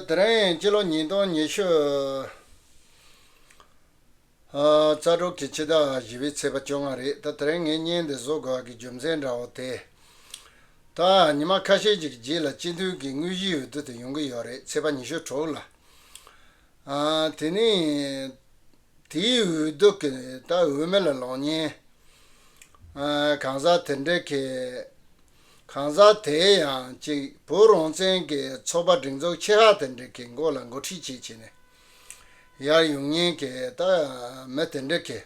དེ་རིང་སྤྱི་ལོ་ཉིས་སྟོང་ཉི་ཤུ་རྩ་དྲུག་གི་ཕྱི་ཟླ་བཞི་བའི་ཚེས་པ་བཅོ་ལྔ་རེད་ད་དེ་རིང་ངས་བརྙན་འདི་བཟོ་དགོས་པ་གི་རྒྱུ་མཚན་འདྲ་བོ་དེ། ད་ཉི་མ་ཁ་ཤས་ཅིག་གི་རྗེས་ལ་སྤྱི་འཐུས་ཀྱི་དངོས་གཞིའི་འོས་བསྡུ་དེ་ཡོང་གི་ཡོད་རེད་ཚེས་པ་ཉི་ཤུ་དྲུག་ལ། དེ་ནས་དེའི་འོས་བསྡུ་གི་ད་འོས་མི་ལ་ལོག་བརྙན་གང་ཟག་དེ་འདྲ་གི། གང་ཟག་དེའི་ཡང་གཅིག་བུ་རོང་བཙན་གྱི་ཚོ་པ་སྒྲིག་འཛུགས་ཆེ་ཧ་དེ་འདྲི་གི་མགོ་ལ་མགོ་ཁྲིད་བྱེད་བྱེད་ནས་ཡར་ཡོང་ཉེན་ཀྱི་ད་མི་དེ་འདྲི་གི་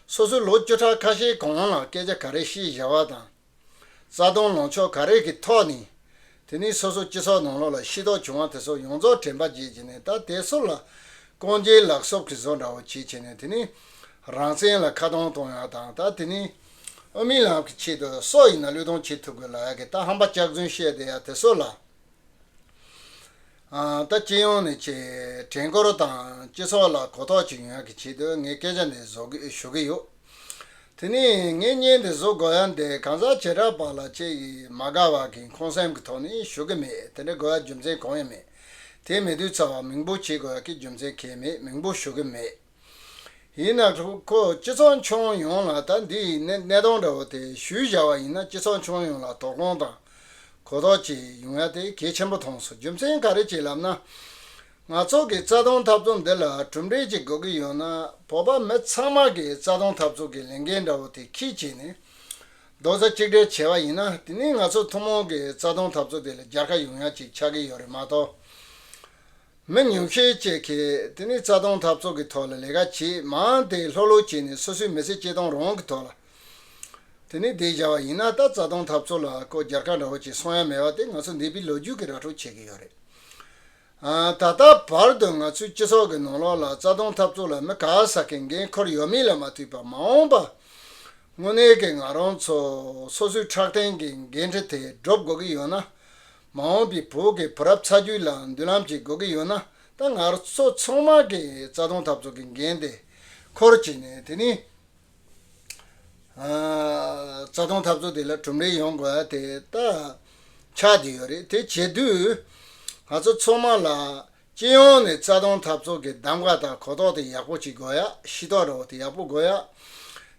སོ་སོའི་ལོ་བཅུ་ཕྲག་ཁ་ཤས་གོང་ལ་སྐད་ཆ་ག་རེ་ཤེས་བཞག་པ་དང་རྩ་དོན་ལོངས་ཕྱོགས་ག་རེ་གི་ཐོག་ནས་དེ་ནས་སོ་སོ་སྤྱི་ཚོགས་ནང་ལོག་ལ་ཤེས་རྟོགས་བྱུང་བ་དེ་སོགས་ཡོངས་རྫོགས་དྲན་པ་བརྗེད་བྱེད་ནས་ད་དེ་སོགས་ལ་རྐང་རྗེས་ལག་གསོབ་གི་བཟོ་འདྲ་བོ་བྱེད་བྱེད་ནས་དེ་ནས་རང་བཙན་ལ་ཁ་གདོང་གཏོང་ཡག་དང་ད་དེ་ནས། ཨོ་མིན་ལགས་ཀྱི་ཆེད་དུ་སོག་ཡིན་ན་བློས་གཏོང་བྱེད་ཐུབ་དགོས་ལ་ཡག་གི་ད་ཧམ་པ་སྐྱག་རྫུན་བཤད་དེ་ཡག་དེ་སོག་ལ་ད་སྤྱི་ཡོངས་ནས་ཆེ་དྲན་སྐོར་དང་སྤྱི་ཚོགས་ལ་གོ་རྟོགས་བྱེད་ཡོང་ཡག་གི་ཆེད་དུ་ངས་སྐད་ཆ་འདི་བཟོ་གི་ཞུ་གི་ཡོད་དེ་ནས་ངས་བརྙན་འདི་བཟོ་དགོས་ཡག་འདི་གང་ཟག་བྱེ་བྲག་པ་ལ་ཆེ་གི་མ་དགའ་བ་གིས་ཁོང་སེམས་ཀྱི་ཐོག་ནས་ཞུ་གི་མེད་དེ་འདྲ་དགོས་ཡག་རྒྱུ་མཚན་གང་ཡང་མེད་དེ་མེད་དུས་ཚོར་བ་མིང་པོ་བྱེད་དགོས་ཡག་གི་རྒྱུ་མཚན་གལ་མེད་མིང་པོ་ཞུ་གི་མེད། ཡིན་ན་ཁོ་སྤྱི་ཚོགས་མཆོང་ཡོང་ལ་ད་འདི་ནི་གནས་སྟངས་འདྲ་བོ་དེ་ཞུས་བཞག་བ་ཡིན་ན་སྤྱི་ཚོགས་མཆོང་ཡོང་ལ་དོགས་སློང་དང་གོ་རྟོགས་བཅས་ཡོང་ཡ་དེ་གལ་ཆེན་པོ་མཐོང་སོང་རྒྱུ་མཚན་ག་རེ་བྱས་ལབ་ན། ང་ཚོ་གི་རྩ་སྟོང་འཐབ་རྩོམ་འདི་ལ་གྲུབ་འབྲས་ཅིག་དགོས་ཀྱི་ཡོད་ན་བོད་པ་མི་ཚང་མ་གི་རྩ་སྟོང་འཐབ་རྩོད་གི་ལས་འགན་འདྲ་བོ་དེ་ཁྱི་བྱས་ནས་རྡོག་རྩ་གཅིག་སྒྲིལ་བྱས་བ་ཡིན་ན་དེ་ནི་ང་ཚོ་ཐུང་མོང་གི་རྩ་སྟོང་འཐབ་རྩོད་དེ་ལ་རྒྱལ་ཁ་ཡོང་ཡ་ཅིག་ཆགས་ཀྱི་ཡོད་རེད་མ་གཏོགས། མི་ཉུང་ཤས་བཅས་ཀྱིས་དེ་ནི་རྩ་སྟོང་འཐབ་ཚོགས་ཀྱི་ཐོག་ལ་ལས་ཀ་བྱེད་མང་སྟེ་ལྷོད་ལྷོད་བྱས་ནས་སོ་སོའི་མི་ཚེ་སྐྱེལ་སྟངས་རང་གི་ཐོག་ལ་དེ་ནི་བདེ་བྱ་བ་ཡིན་ན་ད་རྩ་སྟོང་འཐབ་ཚོགས་ལ་ཀོ་བརྒྱར་ཁ་འདྲ་བོ་བྱས་སོང་ཡ་མེད་པ་དེ་ང་ཚོ་འདས་པའི་ལོ་རྒྱུས་ཀྱི་ར་འཕྲོད་བྱེད་ཀྱི་ཡོད་རེད། ད་ལྟ་བར་དུ་ང་ཚོའི་སྤྱི་ཚོགས་ཀྱི་ནང་ལོགས་ལ་རྩ་སྟོང་འཐབ་ཚོགས་ལ་མི་ག་ས་གའི་འགན་ཁུར་ཡོད་མེད་ལ་མ་ལྟོས་པར་མ་འོངས་པར་དངོས་གནས་ཀྱི་ང་རང་ཚོ་སོ་སོའི་ཕྲག་སྟེང་གི་འགན་འཁྲི་དེ་སྒྲུབ་དགོས་ཀྱི་ཡོད་ན། མ་འོངས་པའི་བོད་ཀྱི་བུ་རབས་ཚ་རྒྱུད་ལ་མདུན་ལམ་ཅིག་དགོས་ཀྱི་ཡོད་ན་ད་ང་ཚོ་ཚང་མ་གི་རྩ་དོན་འཐབ་རྩོད་ཀྱི་འགན་དེ་འཁུར་གྱི་ནས་དེ་ནས་རྩ་དོན་འཐབ་རྩོད་དེ་ལ་གྲུབ་འབྲས་ཡོང་དགོས་དེ་ད་ཆགས་ཀྱི་ཡོད་རེད་དེ་བྱེད་དུས་ང་ཚོ་ཚང་མ་ལ་སྤྱི་ཡོངས་ནས་རྩ་སྟོང་འཐབ་ཚོགས་ཀྱི་གདམ་ག་དང་གོ་རྟོགས་དེ་ཡག་པོ་གཅིག་དགོས་ཡ་ཤི་རྟོགས་རོགས་དེ་ཡག་པོ་དགོས་ཡ།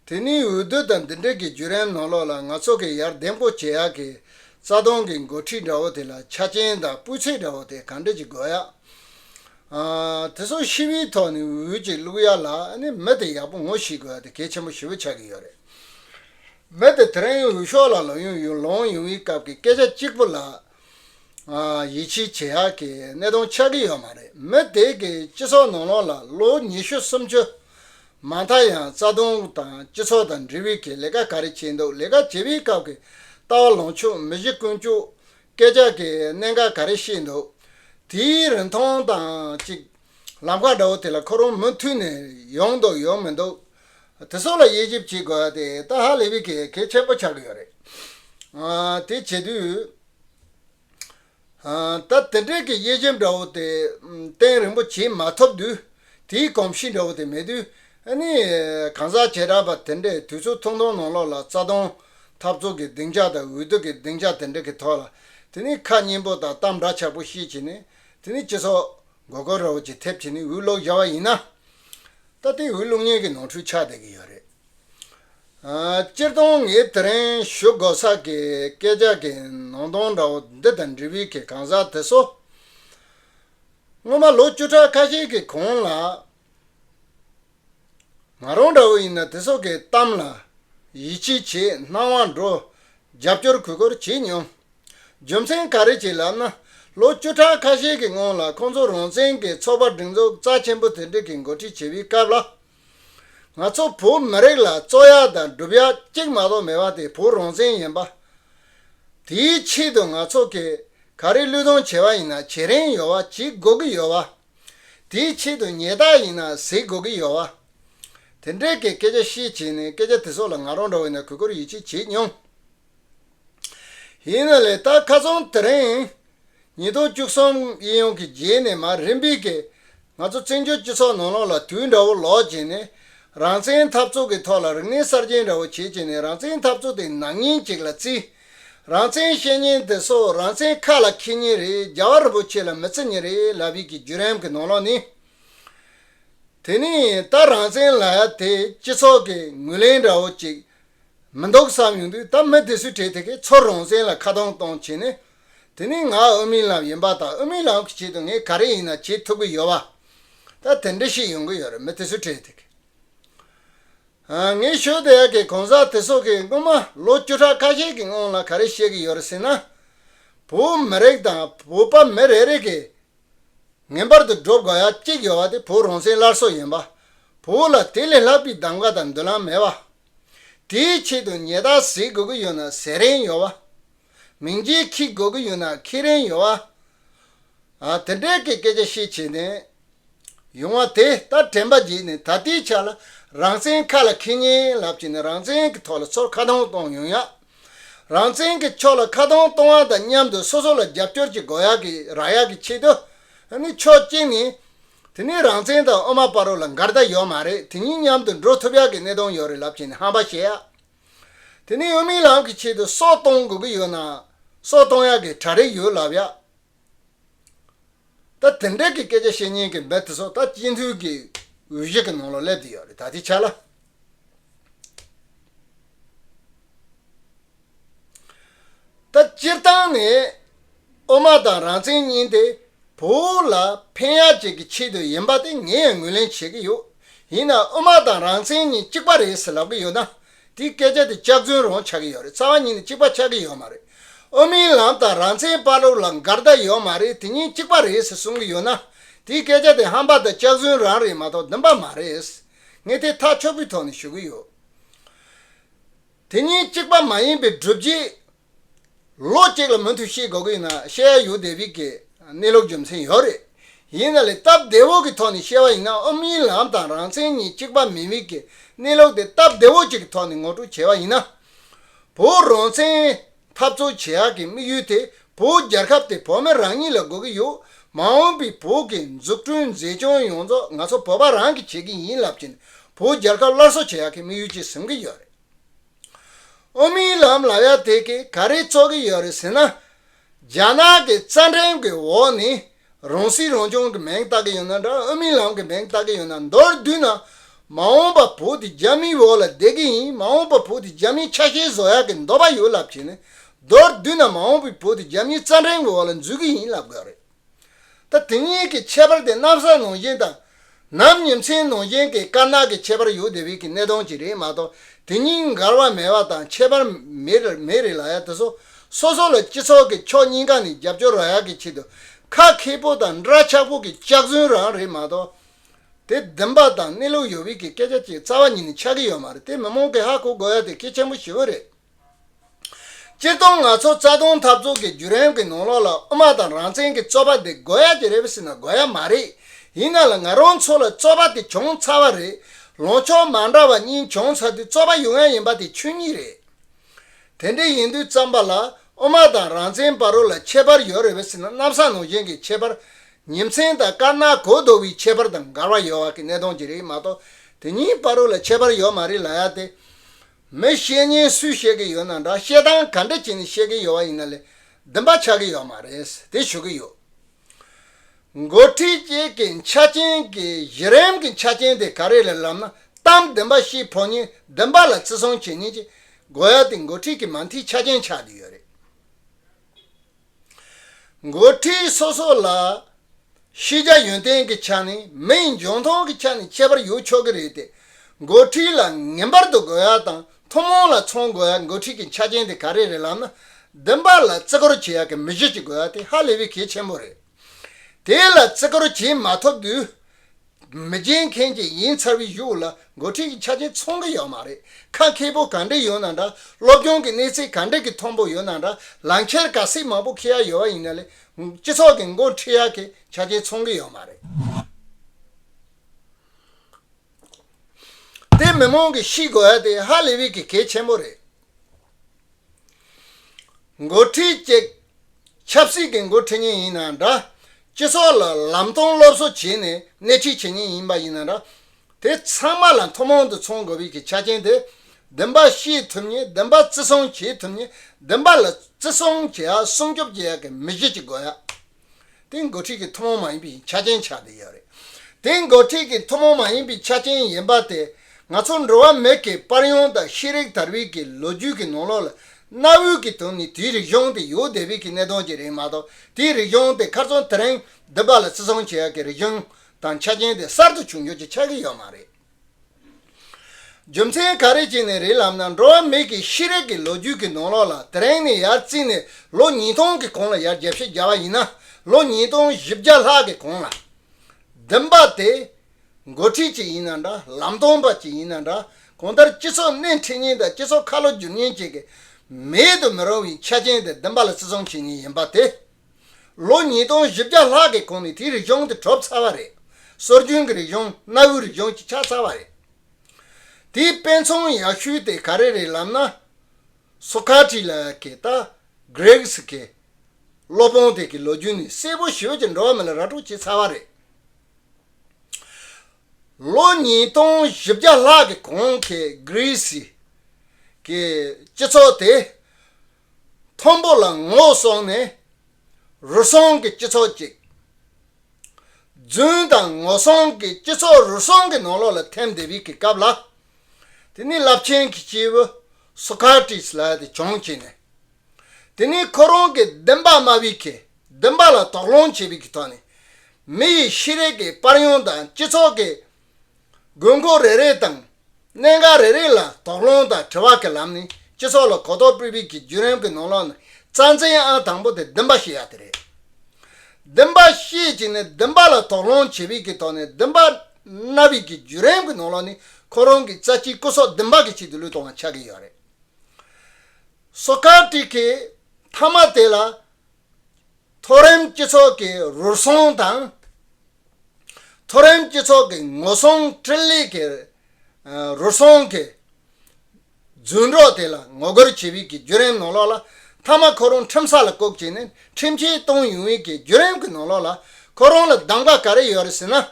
དེ་ནི་འོས་བསྡུ་དང་འདི་འབྲེལ་གྱི་བརྒྱུད་རན་ནོར་ལོག་ལ་ང་ཚོ་གི་ཡར་འདེམས་སྒོ་འབྱེད་ཡག་གི་རྩ་སྟོང་གི་འགོ་ཁྲིད་འདྲ་བོ་དེ་ལ་ཆ་རྐྱེན་དང་སྤུས་ཚད་འདྲ་བོ་དེ་གང་འདྲ་གཅིག་དགོས་ཡ། དེ་སོགས་ཤི་བིའི་ཐོག་ནས་འོས་བསྡུ་གཅིག་བླུགས་ཡ་ལ་ནི་མི་དེ་ཡག་པོ་ངོ་ཤི་དགོས་ཡ་དེ་གལ་ཆེན་པོ་ཞེ་བོ་ཆགས་ཀྱི་ཡོད་རེད། མི་དེ་དེ་རིང་འོས་ཤོག་ལ་ལོ་ཡུང་ཡུལ་ལོངས་ཡོང་བའི་སྐབས་ཀྱི་སྐད་ཆ་གཅིག་པོ་ལ་ཡིད་ཆེས་བྱེད་ཡག་གི་གནས་སྟངས་ཆགས་ཀྱི་ཡོད་མ་རེད་མོད། དེ་གའི་སྤྱི་ཚོགས་ནང་ལོགས་ལ་ལོ་ཉི་ཤུ་སུམ་ཅུ་མ་མཐའ་ཡང་རྩ་དོན་དང་སྤྱི་ཚོགས་དང་འབྲེལ་བའི་གི་ལས་ཀ་ག་རེ་བྱས་འདུག་ལས་ཀ་བྱེད་པའི་སྐབས་ཀྱི་ལྟ་བ་ལངས་ཕྱོགས་མི་གཞི་ཀུན་སྤྱོད་སྐད་ཆ་གི་གནད་འགག་ག་རེ་བཤད་འདུག་དེའི་རིན་ཐང་དང་ཅིག་ལམ་ཁ་འདྲ་བོ་དེ་ལ་ཁོ་རང་མུ་མཐུད་ནས་ཡོང་འདུག་ཡོང་མི་འདུག་དེ་སོགས་ལ་དབྱེ་ཞིབ་བྱེད་དགོས་ཏེ་ཏཱ་ཧ་ལེ་བི་ཀས་གལ་ཆེན་པོ་ཆགས་ཀྱི་ཡོད་རེད། དེ་བྱེད་དུས། ད་དེ་འབྲེལ་གྱི་དབྱེ་ཞིབ་འདྲ་བོ་དེ་བསྟན་རིན་པོ་ཆེས་མ་ཐོབ་དུས། དེའི་གོམས་གཤིས་འདྲ་བོ་དེ་མེད་དུས། ནི། གང་ཟག་བྱེ་བྲག་པ་དེ་འདྲས་དུས་ཚོད་ཐུང་ཐུང་ནང་ལོགས་ལ་རྩ་སྟོང། འཐབ་རྩོད་ཀྱི་སྡིངས་ཆ་དང་འུད་བསྟོད་ཀྱི་སྡིངས་ཆ་དེ་འདྲ་གི་ཐོག་ལ། དེ་ནི་ཁ་སྙན་པོ་དང་གཏམ་འདྲ་ཆགས་པོ་བཤད་བྱས་ནས་དེ་ནི་སྤྱི་ཚོགས། དགོས་མཁོ་ར་བོ་ཆེ་ཐེབས་བྱས་ནས་འུད་ལོག་བཞག་པ་ཡིན་ན། ད་ལྟའི་བའི་གློག་བརྙན་གྱི་ནང་འཕྲུལ་ཆགས་བསྡད་ཀྱི་ཡོད་རེད། སྤྱིར་བཏང་ངས་དེ་རིང་ཞུ་དགོས་ས་གི་སྐད་ཆ་གི་ནང་དོན་འདྲ་བོ་འདི་དང་འབྲེལ་བའི་གི་གང་ཟག་དེ་ཚོ། སྔོན་མ་ལོ་བཅུ་ཕྲག་ཁ་ཤས་ཀྱི་གོང་ལ། ང་རང་འདྲ་བོ་ཡིན་ན་དེ་ཚོ་གི་གཏམ་ལ་ཡིད་ཆེས་བྱེད་སྣང་བ་འགྲོ་རྒྱབ་སྐྱོར་གུས་བཀུར་བྱེད་མྱོང། རྒྱུ་མཚན་ག་རེ་བྱས་ལབ་ན། ལོ་བཅུ་ཕྲག་ཁ་ཤས་ཀྱི་སྔོན་ལ་ཁོང་ཚོ་རང་བཙན་གྱི་ཚོགས་པ་སྒྲིག་འཛུགས་རྩ་ཆེན་པོ་དེ་འགྲིག་གི་འགོ་ཁྲིད་བྱེད་པའི་སྐབས་ལ། ང་ཚོ་བོད་མི་རིགས་ལ་རྩོད་ཡག་དང་སྒྲུབ་ཡག་གཅིག་མ་གཏོགས་མེད་པ་དེ་བོད་རང་བཙན་ཡིན་པ། དེའི་ཆེད་དུ་ང་ཚོ་གིས་ག་རེ་བློས་གཏོང་བྱས་པ་ཡིན་ན་བྱེད་རིན་ཡོད་བ་བྱེད་དགོས་ཀྱི་ཡོད་བ། དེའི་ཆེད་དུ་ཉེས་རྟགས་ཡིན་ན་གཟིགས་དགོས་ཀྱི་ཡོད་བ། དེ་འདྲའི་གི་སྐད་ཆ་བཤད་བྱས་ནས་སྐད་ཆ་དེ་ཚོ་ལ་ང་རང་འགྲོ་བའི་ནང་གུས་བཀུར་ཡིད་ཆེས་བྱས་མྱོང། ཡིན་ན་ལས་རྟགས་ཁ་ཚོན་དེ་རིང་ཉིས་སྟོང་བཅུ་གསུམ་དབྱིན་ཡུང་གི་རྗེས་ནས་མ་རིམ་པས་ང་ཚོ་བཙན་བྱོལ་སྤྱི་ཚོགས་ནང་ལོགས་ལ་དུས་འདྲ་བོ་ལོག་བྱས་ནས་རང་བཙན་འཐབ་རྩོད་ཀྱི་ཐོག་ལ་རིག་གནས་གསར་རྗེན་འདྲ་བོ་བྱེད་བྱས་ནས་རང་བཙན་འཐབ་རྩོད་དེ་ནག་ཉེན་ཅིག་ལ་བརྩི། རང་བཙན་བཤད་ཉེན་དེ་སོ་རང་བཙན་ཁ་ལ་འཁྱེར་ཉེན་རེད་རྒྱ་བ་རིན་པོ་ཆེ་ལ་མི་བརྩི་ཉེན་རེད་ལབ་ཡིག་གི་བརྒྱུད་རིམ་གྱི་ནང་ལོགས་ནི། དེ་ནི་ད་རང་བཙན་ལ་ཡ་དེ་སྤྱི་ཚོགས་ཀྱི་ངོས་ལེན་འདྲ་བོ་ཅིག་མི་འདུག་བསམ་ཡོང་དུས་ད་མི་དེ་སུས་བྲེལ་དེ་གས་ཚོར་རང་བཙན་ལ་ཁ་གཏོང་གཏོང་བྱེད་ནི། དེ་ནི་ང་དབུ་མའི་ལམ་ཡིན་པ་དང་དབུ་མའི་ལམ་གྱི་ཆེད་དུ་ངས་ག་རེ་ཡིན་ན་བྱེད་ཐུབ་གི་ཡོད་བ། ད་དེ་འདྲ་ཞིག་ཡོང་གི་ཡོད་རེད་མི་དེ་སུས་བྲེལ་དེ་གས། ངས་ཤོད་དེ་ཡ་གི་གང་ཟག་དེ་སོགས་ཀྱིས་སྔོན་མ་ལོ་བཅུ་ཕྲག་ཁ་ཤས་ཀྱི་སྔོན་ལ་ག་རེ་བཤད་གི་ཡོད་རེད་ཟེར་ན། བོད་མི་རིགས་དང་བོད་པ་མི་རེ་རེ་གས་ངན་པར་དུ་སྒྲོབ་དགོས་ཡ་གཅིག་ཡོད་བ་དེ་བོད་རང་བཙན་སླར་གསོ་ཡིན་པ། བོད་ལ་དེ་ལས་ལྷག་པའི་གདམ་ག་དང་མདུན་ལམ་མེད་བ། དེའི་ཆེད་དུ་ཉལ་ཐག་ཟེར་དགོས་ཀྱི་ཡོད་ན་ཟེར་རན་ཡོད་བ། མིང་རྗེས་ཁྱི་དགོས་ཀྱི་ཡོད་ན་ཁྱི་རན་ཡོད་བ། དེ་འདྲའི་གི་སྐད་ཆ་བཤད་བྱེད་ནས་ཡོང་བ་དེ་ལྟར་དྲན་པ་བརྗེད་ནས་ད་ལྟའི་ཆ་ལ་རང་བཙན་ཁ་ལ་ཁེན་ཉེན་ལབ་བྱེད་ནས་རང་བཙན་གྱི་ཐོག་ལ་ཚོར་ཁ་གདོང་གཏོང་ཡོང་ཡག། རང་བཙན་གྱི་ཕྱོགས་ལ་ཁ་གདོང་གཏོང་བ་དང་མཉམ་དུ་སོ་སོ་ལ་རྒྱབ་སྐྱོར་བྱེད་དགོས་ཡག་གི་རག་ཡག་གི་ཆེད་དུ་ནི་ཆོག་གཅིག་ནི། དེ་ནས་རང་བཙན་དང་ཨོ་མ་པ་རོ་ལ་འགར་ཟླ་ཡོད་མ་རེད་དེ་གཉིས་མཉམ་དུ་འགྲོ་ཐུབ་ཡག་གི་གནས་སྟངས་ཡོད་རེད་ལབ་ཀྱི་ནས་ཧམ་པ་བཤད་ཡ། དེ་ནས་ཡུལ་མིའི་ལམ་གྱི་ཆེད་དུ་སྲོག་གཏོང་དགོས་ཀྱི་ཡོད་ན་སྲོག་གཏོང་ཡག་གི་གྲ་རེ་ཡོད་ལབ་ཡ། ད་དེ་འདྲ་གི་སྐད་ཆ་བཤད་ཉན་གི་མི་དེ་ཚོ་ད་སྤྱི་འཐུས་ཀྱི་འོས་གཞི་གི་ནང་ལ་སླེབས་དེ་ཡོད་རེད་ད་དེ་ཆ་ལ། ད་སྤྱིར་བཏང་ནས་ཨོ་མ་དང་རང་བཙན་གཉིས་དེ་བོད་ལ་ཕན་ཡག་བཅས་ཀྱི་ཆེད་དུ་ཡིན་པ་དེ་ངས་ངོས་ལེན་བྱེད་ཀྱི་ཡོད། ཡིན་ནའང་ཨོ་མ་དང་རང་བཙན་གཉིས་གཅིག་པ་རེད་ཟེར་ལབ་ཀྱི་ཡོད་ན། དེ་སྐད་ཆ་དེ་ལྕགས་རྫུན་རང་ཆགས་ཀྱི་ཡོད་རེད་རྩ་བ་ཉིད་ནས་གཅིག་པ་ཆགས་ཀྱི་ཡོད་མ་རེད། ཨོ་མིའི་ལམ་དང་རང་བཙན་དཔའ་སློབ་ལ་འགལ་ཟླ་ཡོད་མ་རེད་དེ་གཉིས་གཅིག་པ་རེད་ཟེར་གསུང་གི་ཡོད་ན། དེ་སྐད་ཆ་དེ་ཧམ་པ་དང་ལྕགས་རྫུན་རང་རེད་མ་གཏོགས་བདེན་པ་མ་རེད། ངས་དེ་ཐག་ཆོད་པོའི་ཐོག་ནས་ཞུ་གི་ཡོད། དེ་གཉིས་གཅིག་པ་མ་ཡིན་པའི་སྒྲུབ་བྱེད། ལོ་གཅིག་ལ་མུ་མཐུད་ཤེས་དགོས་ཀྱི་ཡིན་ན་བཤད་ཡ་ཡོད་བདེ་བིག་གི་གནས་ལུགས་རྒྱུ་མཚན་ཡོད་རེད། ཡིན་ན་ལས་སྟབས་བདེ་བོ་གི་ཐོག་ནས་བཤད་བ་ཡིན་ན་ཨོམ་ཡིན་ལམ་དང་རང་བཙན་གཉིས་གཅིག་པ་མིན་བིག་གི་གནས་ལུགས་དེ་སྟབས་བདེ་བོ་གཅིག་གི་ཐོག་ནས་ངོ་སྤྲོད་བྱས་བ་ཡིན་ན། བོད་རང་བཙན། འཐབ་རྩོད་བྱེད་ཡག་གི་དམིགས་ཡུལ་དེ་བོད་རྒྱལ་ཁབ་དེ་བོད་མི་རང་ཉིད་ལ་དགོས་ཀྱི་ཡོད། མ་འོངས་པའི་བོད་ཀྱི་འཛུགས་སྐྲུན་མཛེས་ལྗོངས་ཡོངས་རྫོགས་ང་ཚོ་བོད་པ་རང་གིས་བྱེད་ཀྱི་ཡིན་ལབ་ཀྱིན་བོད་རྒྱལ་ཁབ་སླར་གསོ་བྱེད་ཡག་གི་དམིགས་ཡུལ་གྱིས་བཟུང་གི་ཡོད་རེད། ཨོ་མིའི་ལམ་ལབ་ཡག་དེ་གིས་ག་རེ་བཙོག་གི་ཡོད་རེད་ཟེར་ན། རྒྱ་ནག་གི་རྩ་འགྲེམས་ཀྱི་འོག་ནས་རང་སྲིད་རང་སྐྱོང་གི་མེང་བཏགས་ཀྱི་ཡོད་ན་འདྲ་ཨ་མིའི་ལམ་གྱི་མེང་བཏགས་ཀྱི་ཡོད་ན་མདོར་བསྡུས་ན། མ་འོངས་པ་བོད་དེ་རྒྱ་མིའི་འོག་ལ་བསྡད་ཀྱི་ཡིན་མ་འོངས་པ་བོད་དེ་རྒྱ་མིའི་ཆ་ཤས་བཟོ་ཡག་གི་འདོད་པ་ཡོད་ལབ་ཀྱི་ནི། མདོར་བསྡུས་ན་མ་འོངས་པའི་བོད་དེ་རྒྱ་མིའི་རྩ་འགྲན་གྱི་འོག་ལ་འཛུལ་གྱི་ཡིན་ལབ་དགོས་རེད། ད་དེ་གཉིས་ཀྱི་ཁྱད་པར་དེ་གནམ་ས་ནང་བཞིན་དང། ནམ་ཉིན་མཚན་ནོར་ཅན་གྱི་དཀར་ནག་གི་ཁྱད་པར་ཡུལ་དེ་རིགས་ཀྱི་གནས་སྟངས་ཀྱིས་རེད་མ་གཏོགས་དེ་གཉིས་མགར་བ་མེ་བ་དང་ཁྱད་པར་མེད་རེད་ལ་ཡ་དེ་སོ་སོ་སོ་ལ་སྤྱི་ཚོགས་ཀྱི་ཕྱོགས་གཉིས་ཀ་ནས་རྒྱབ་སྐྱོར་རོགས་ཡག་གི་ཆེད་དུ་ཁ་མཁས་པོ་དང་འདྲ་ཆགས་པོ་གི་སྐྱག་རྫུན་རང་རེད་མ་གཏོགས་དེ་བདེན་པ་དང་གནས་ལུགས་ཡོད་བིག་གི་སྐད་ཆ་གཅིག་རྩ་བ་ཉིད་ནས་ཆགས་ཀྱི་ཡོད་མ་རེད་དེ་མི་མང་གི་ཧ་གོ་དགོས་ཡ་དེ་གལ་ཆེན་པོ་ཞེ་བོ་རེད། སྤྱིར་བཏང་ང་ཚོ་རྩ་དོན་འཐབ་རྩོད་ཀྱི་བརྒྱུད་རིམ་གྱི་ནང་ལོགས་ལ་དབུ་མ་དང་རང་བཙན་གྱི་རྩོད་པ་འདི་དགོས་ཡ་གྱི་རེད་པ་ཟེར་ན་དགོས་ཡ་མ་རེད། ཡིན་ན་ལ་ང་རང་ཚོ་ལ་རྩོད་པ་དེ་བྱུང་ཚར་བ་རེད། ལངས་ཕྱོགས་མ་འདྲ་བ་གཉིས་བྱུང་ཚར་དུས་རྩོད་པ་ཡོང་ཡ་ཡིན་པ་དེ་ཆོས་ཉིད་རེད། དེ་འདྲ་ཡིན་དུས་བརྩམས་པ་ལ་དབུ་མ་དང་རང་བཙན་བར་རོ་ལ་ཁྱད་པར་ཡོད་རེད་པ་ཟེར་ན་གནམ་ས་ནང་བཞིན་གྱི་ཁྱད་པར། ཉིན་མཚན་དང་དཀར་ནག་གོས་རྡོ་བའི་ཁྱད་པར་དང་འགལ་བ་ཡོད་བ་གི་གནད་དོན་གྱི་རེད་མ་གཏོགས་དེ་གཉིས་བར་རོ་ལ་ཁྱད་པར་ཡོད་མ་རེད་ལ་ཡ་དེ། མི་བཤད་ཉན་སུས་བཤད་གི་ཡོད་ན་འདྲ་བཤད་སྟངས་ག་འདྲ་བྱས་ནས་བཤད་གི་ཡོད་བ་ཡིན་ན་ལས་འདི་འབའ་ཆགས་གི་ཡོད་མ་རེད་དེ་ཞུ་གི་ཡོད། མགོ་ཁྲིད་བཅས་ཀྱི་ཆ་རྐྱེན་གྱི་གཞི་རིམ་གྱི་ཆ་རྐྱེན་དེ་ག་རེ་ལས་ལབ་ན་གཏམ་འདི་འབའ་ཤེས་ཕོ་ཉས་འདི་འབའ་ལ་བརྩི་བསྲུང་བྱེད་ཉེན་གྱི་དགོས་ཡ་དེ་མགོ་ཁྲིད་ཀྱི་མ་མཐིལ་ཆ་རྐྱེན་ཆགས་གི་ཡོད་རེད། འགོ་ཁྲིད་སོ་སོ་ལ། ཤེས་བྱ་ཡོན་ཏན་གྱི་ཆ་ནས་མི་ཡི་འབྱུང་ཐོག་གི་ཆ་ནས་ཁྱད་པར་ཡོད་ཆོག་གི་རེད་དེ། འགོ་ཁྲིད་ལ་ངན་པར་དུ་དགོས་ཡ་དང་ཐུན་མོང་ལ་མཚོན་དགོས་ཡ་འགོ་ཁྲིད་ཀྱི་ཆ་རྐྱེན་དེ་ག་རེ་རེད་ལབ་ན། བདུན་པ་ལ་བརྩི་བཀུར་བྱེད་ཡ་གི་མི་གཞི་གཅིག་དགོས་ཡ་དེ་ཧ་ལས་པའི་གལ་ཆེན་པོ་རེད། དེ་ལ་བརྩི་བཀུར་བྱེད་མ་ཐུབ་དུས། མི་སྦྱིན་མཁན་གྱི་ཡིན་ཚར་བའི་གཞུག་ལ་འགོ་ཁྲིད་ཀྱི་ཆ་རྐྱེན་ཚོང་གི་ཡོད་མ་རེད་ཁ་མཁས་པོ་གང་འདྲས་ཡོད་ན་འདྲ་སློབ་སྦྱོང་གི་གནས་ཚད་གང་འདྲས་ཀྱི་མཐོན་པོ་ཡོད་ན་འདྲ་ལམ་ཁྱེར་ག་སེ་མང་པོ་ཁེ་ཡ་ཡོད་བ་ཡིན་ན་ལས་སྤྱི་ཚོགས་ཀྱི་འགོ་ཁྲིད་ཡ་གི་ཆ་རྐྱེན་ཚོང་གི་ཡོད་མ་རེད། དེ་མི་མང་གི་ཤི་དགོས་ཡ་དེ་ཧ་ལས་བས་ཀྱི་གལ་ཆེན་པོ་རེད། འགོ་ཁྲིད་བཅས་ཆབ་སྲིད་ཀྱི་འགོ་ཁྲིད་ཉིན་ཡིན་ན་འདྲ་སྤྱི་ཚོགས་ལ་ལམ་སྟོན་སློབ་གསོ་བྱས་ནས་སྣེ་ཁྲིད་བྱེད་ཉིན་ཡིན་པ་ཡིན་ན་འདྲ་དེ་ཚང་མ་ལ་མཐོ་མང་དུ་མཚོན་དགོས་པའི་གི་ཆ་རྐྱེན་དེ་བདེན་པ་ཤེས་ཐུབ་ཉིན་བདེན་པ་བརྩི་སྲུང་བྱེད་ཐུབ་ཉིན་བདེན་པ་ལ་བརྩི་སྲུང་བྱེད་ཡག་སྲུང་སྐྱོབ་བྱེད་ཡག་གི་མི་གཞི་གཅིག་དགོས་ཡག། དེ་འགོ་ཁྲིད་ཀྱི་ཐུན་མོང་མ་ཡིན་པའི་ཆ་རྐྱེན་ཆགས་ཀྱི་ཡོད་རེད། དེ་འགོ་ཁྲིད་ཀྱི་ཐུན་མོང་མ་ཡིན་པའི་ཆ་རྐྱེན་ཡིན་པ་དེ་ང་ཚོ་འགྲོ་བ་མི་གི་པར་ཡོངས་དང་ཤེས་རིག་དར་བིས་ཀྱི་ལོ་རྒྱུས་ཀྱི་ནང་ལོགས་ལ་གནའ་བོའི་ཀྱི་དོན་ནི་དེའི་རིག་གཞུང་དེ་ཡོད་བསྡད་བིས་ཀྱི་གནད་དོན་གྱི་རིགས་མ་གཏོགས་དེའི་རིག་གཞུང་དེ་ཁར་ཚོང་དེ་རིང་འདི་པ་ལ་བརྩི་སྲུང་བྱེད་ཡག་གི་རིག་གཞུང་དང་ཆ་རྐྱེན་དེ་གསར་དུ་བྱུང་རྒྱུ་གྱི་ཆགས་ཀྱི་ཡོད་མ་རེད། རྒྱུ་མཚན་ག་རེ་གྱིས་ནི་རི་ལམ་ན་འགྲོ་བ་མིག་གི་ཤེས་རིག་གི་ལོ་རྒྱུས་ཀྱི་ནང་ལོགས་ལ་དེ་རིང་ནས་ཡར་བརྩིས་ནས་ལོ་ཉིས་སྟོང་གི་གོང་ལ་ཡར་རྒྱས་བཤད་རྒྱ་བ་ཡིན་ན་ལོ་ཉིས་སྟོང་བཞི་བརྒྱ་ལྷག་གི་གོང་ལ། བདུན་པ་དེ་མགོ་ཁྲིད་ཅིག་ཡིན་ན་འདྲ་ལམ་སྟོན་པ་ཅིག་ཡིན་ན་འདྲ་གང་ལྟར་སྤྱི་ཚོགས་སྣེ་འཁྲིད་ཉིན་དང་སྤྱི་ཚོགས་ཁ་ལོ་བསྒྱུར་ཉིན་བཅས་ཀྱི་མེད་དུ་མི་རུང་བའི་ཆ་རྐྱེན་དེ་བདུན་པ་ལ་བརྩི་སྲུང་བྱེད་ངེས་ཡིན་པ་དེ། ལོ་ཉིས་སྟོང་བཞི་བརྒྱ་ལྷག་གི་གོང་ནས་དེའི་རིག་གཞུང་དེ་གྲུབ་ཚར་བ་རེད། སྲོལ་རྒྱུན་གྱི་རིག་གཞུང་གནའ་བོའི་རིག་གཞུང་ཅིག་ཆགས་ཚར་བ་རེད། དེའི་དཔེ་མཚོན་ཡག་ཤོས་དེ་ག་རེ་རེད་ལབ་ན། སོ་ཁ་ཏྲི་ལ་ཀེ་ཏ། Greeks། གི་སློབ་དཔོན་དེ་གའི་ལོ་རྒྱུས་ནི་གསལ་པོ་ཞི་བོ་ཅིག་འགྲོ་བ་མི་ལ་ར་སྤྲོད་བྱས་ཚར་བ་རེད། ལོ་ཉིས་སྟོང་བཞི་བརྒྱ་ལྷག་གི་གོང་གི Greece། གི་སྤྱི་ཚོགས་དེ་མཐོན་པོ་ལ་ངོ་སོང་ནས་རུལ་སུངས་ཀྱི་སྤྱི་ཚོགས་ཅིག། རྫུན་དང་ངོ་སོང་གི་སྤྱི་ཚོགས་རུལ་སུངས་ཀྱི་ནོར་ལོག་ལ་ཐེམ་དེབ་ཡིག་གི་སྐབས་ལ། དེ་ནི་རླབས་ཆེན་གྱི་སྐྱེས་བུ་སོ་ཁ་ཏིས་ལ་དེ་སྦྱོང་བྱས་ནས། དེ་ནི་ཁོ་རང་གི་བདེན་པ་སྨྲ་བའི་ཁའི་བདེན་པ་ལ་དོགས་སློང་བྱས་པའི་གི་ཐོག་ནས། མི་ཡི་ཤེས་རིག་གི་དཔར་ཡོན་དང་སྤྱི་ཚོགས་ཀྱི་དགོས་མཁོ་རེ་རེ་དང་གནད་འགག་རེ་རེ་ལ་དོགས་སློང་དང་དྲི་བ་གི་ལམ་ནས་སྤྱི་ཚོགས་ལ་གོ་རྟོགས་སྤེལ་བའི་གི་བརྒྱུད་རིམ་གི་ནང་ལོགས་ནས་རྩ་འཛིན་ཨང་དང་པོ་དེ་བདུན་པ་ཤེས་ཡག་དེ་རེད། བདུན་པ་ཤེས་ཀྱི་ནས་བདུན་པ་ལ་དོགས་སློང་བྱེད་པའི་གི་ཐོག་ནས་བདུན་པ་རྣ་བའི་གི་བརྒྱུད་རིམ་གི་ནང་ལོགས་ནས་ཁོ་རང་གི་རྩ་གཅིག་སྐུ་སྲོག་བདུན་པ་གི་ཆེད་དུ་བློས་གཏོང་བ་ཆགས་གི་ཡོད་རེད། སོ་ཀར་ཏིས་ཀི་མཐའ་མ་དེ་ལ། མཐོ་རིམ་སྤྱི་ཚོགས་ཀྱི་རུལ་སུངས་དང། མཐོ་རིམ་སྤྱི་ཚོགས་ཀྱི་ངོ་སྲུང་ཁྲིད་ལས་ཀྱི་རུལ་སུངས་ཀྱི་རྫུན་སྒྲོག་དེ་ལ་ངོ་རྒོལ་བྱེད་པའི་བརྒྱུད་རིམ་ནང་ལོགས་ལ་མཐའ་མ་ཁོ་རང་ཁྲིམས་ས་ལ་བཀོག་ཅིག་ནས་ཁྲིམས་ཆད་གཏོང་ཡོང་བའི་བརྒྱུད་རིམ་གྱི་ནང་ལོགས་ལ་ཁོ་རང་ལ་གདམ་ག་ག་རེ་ཡོད་རེད་ཟེར་ན།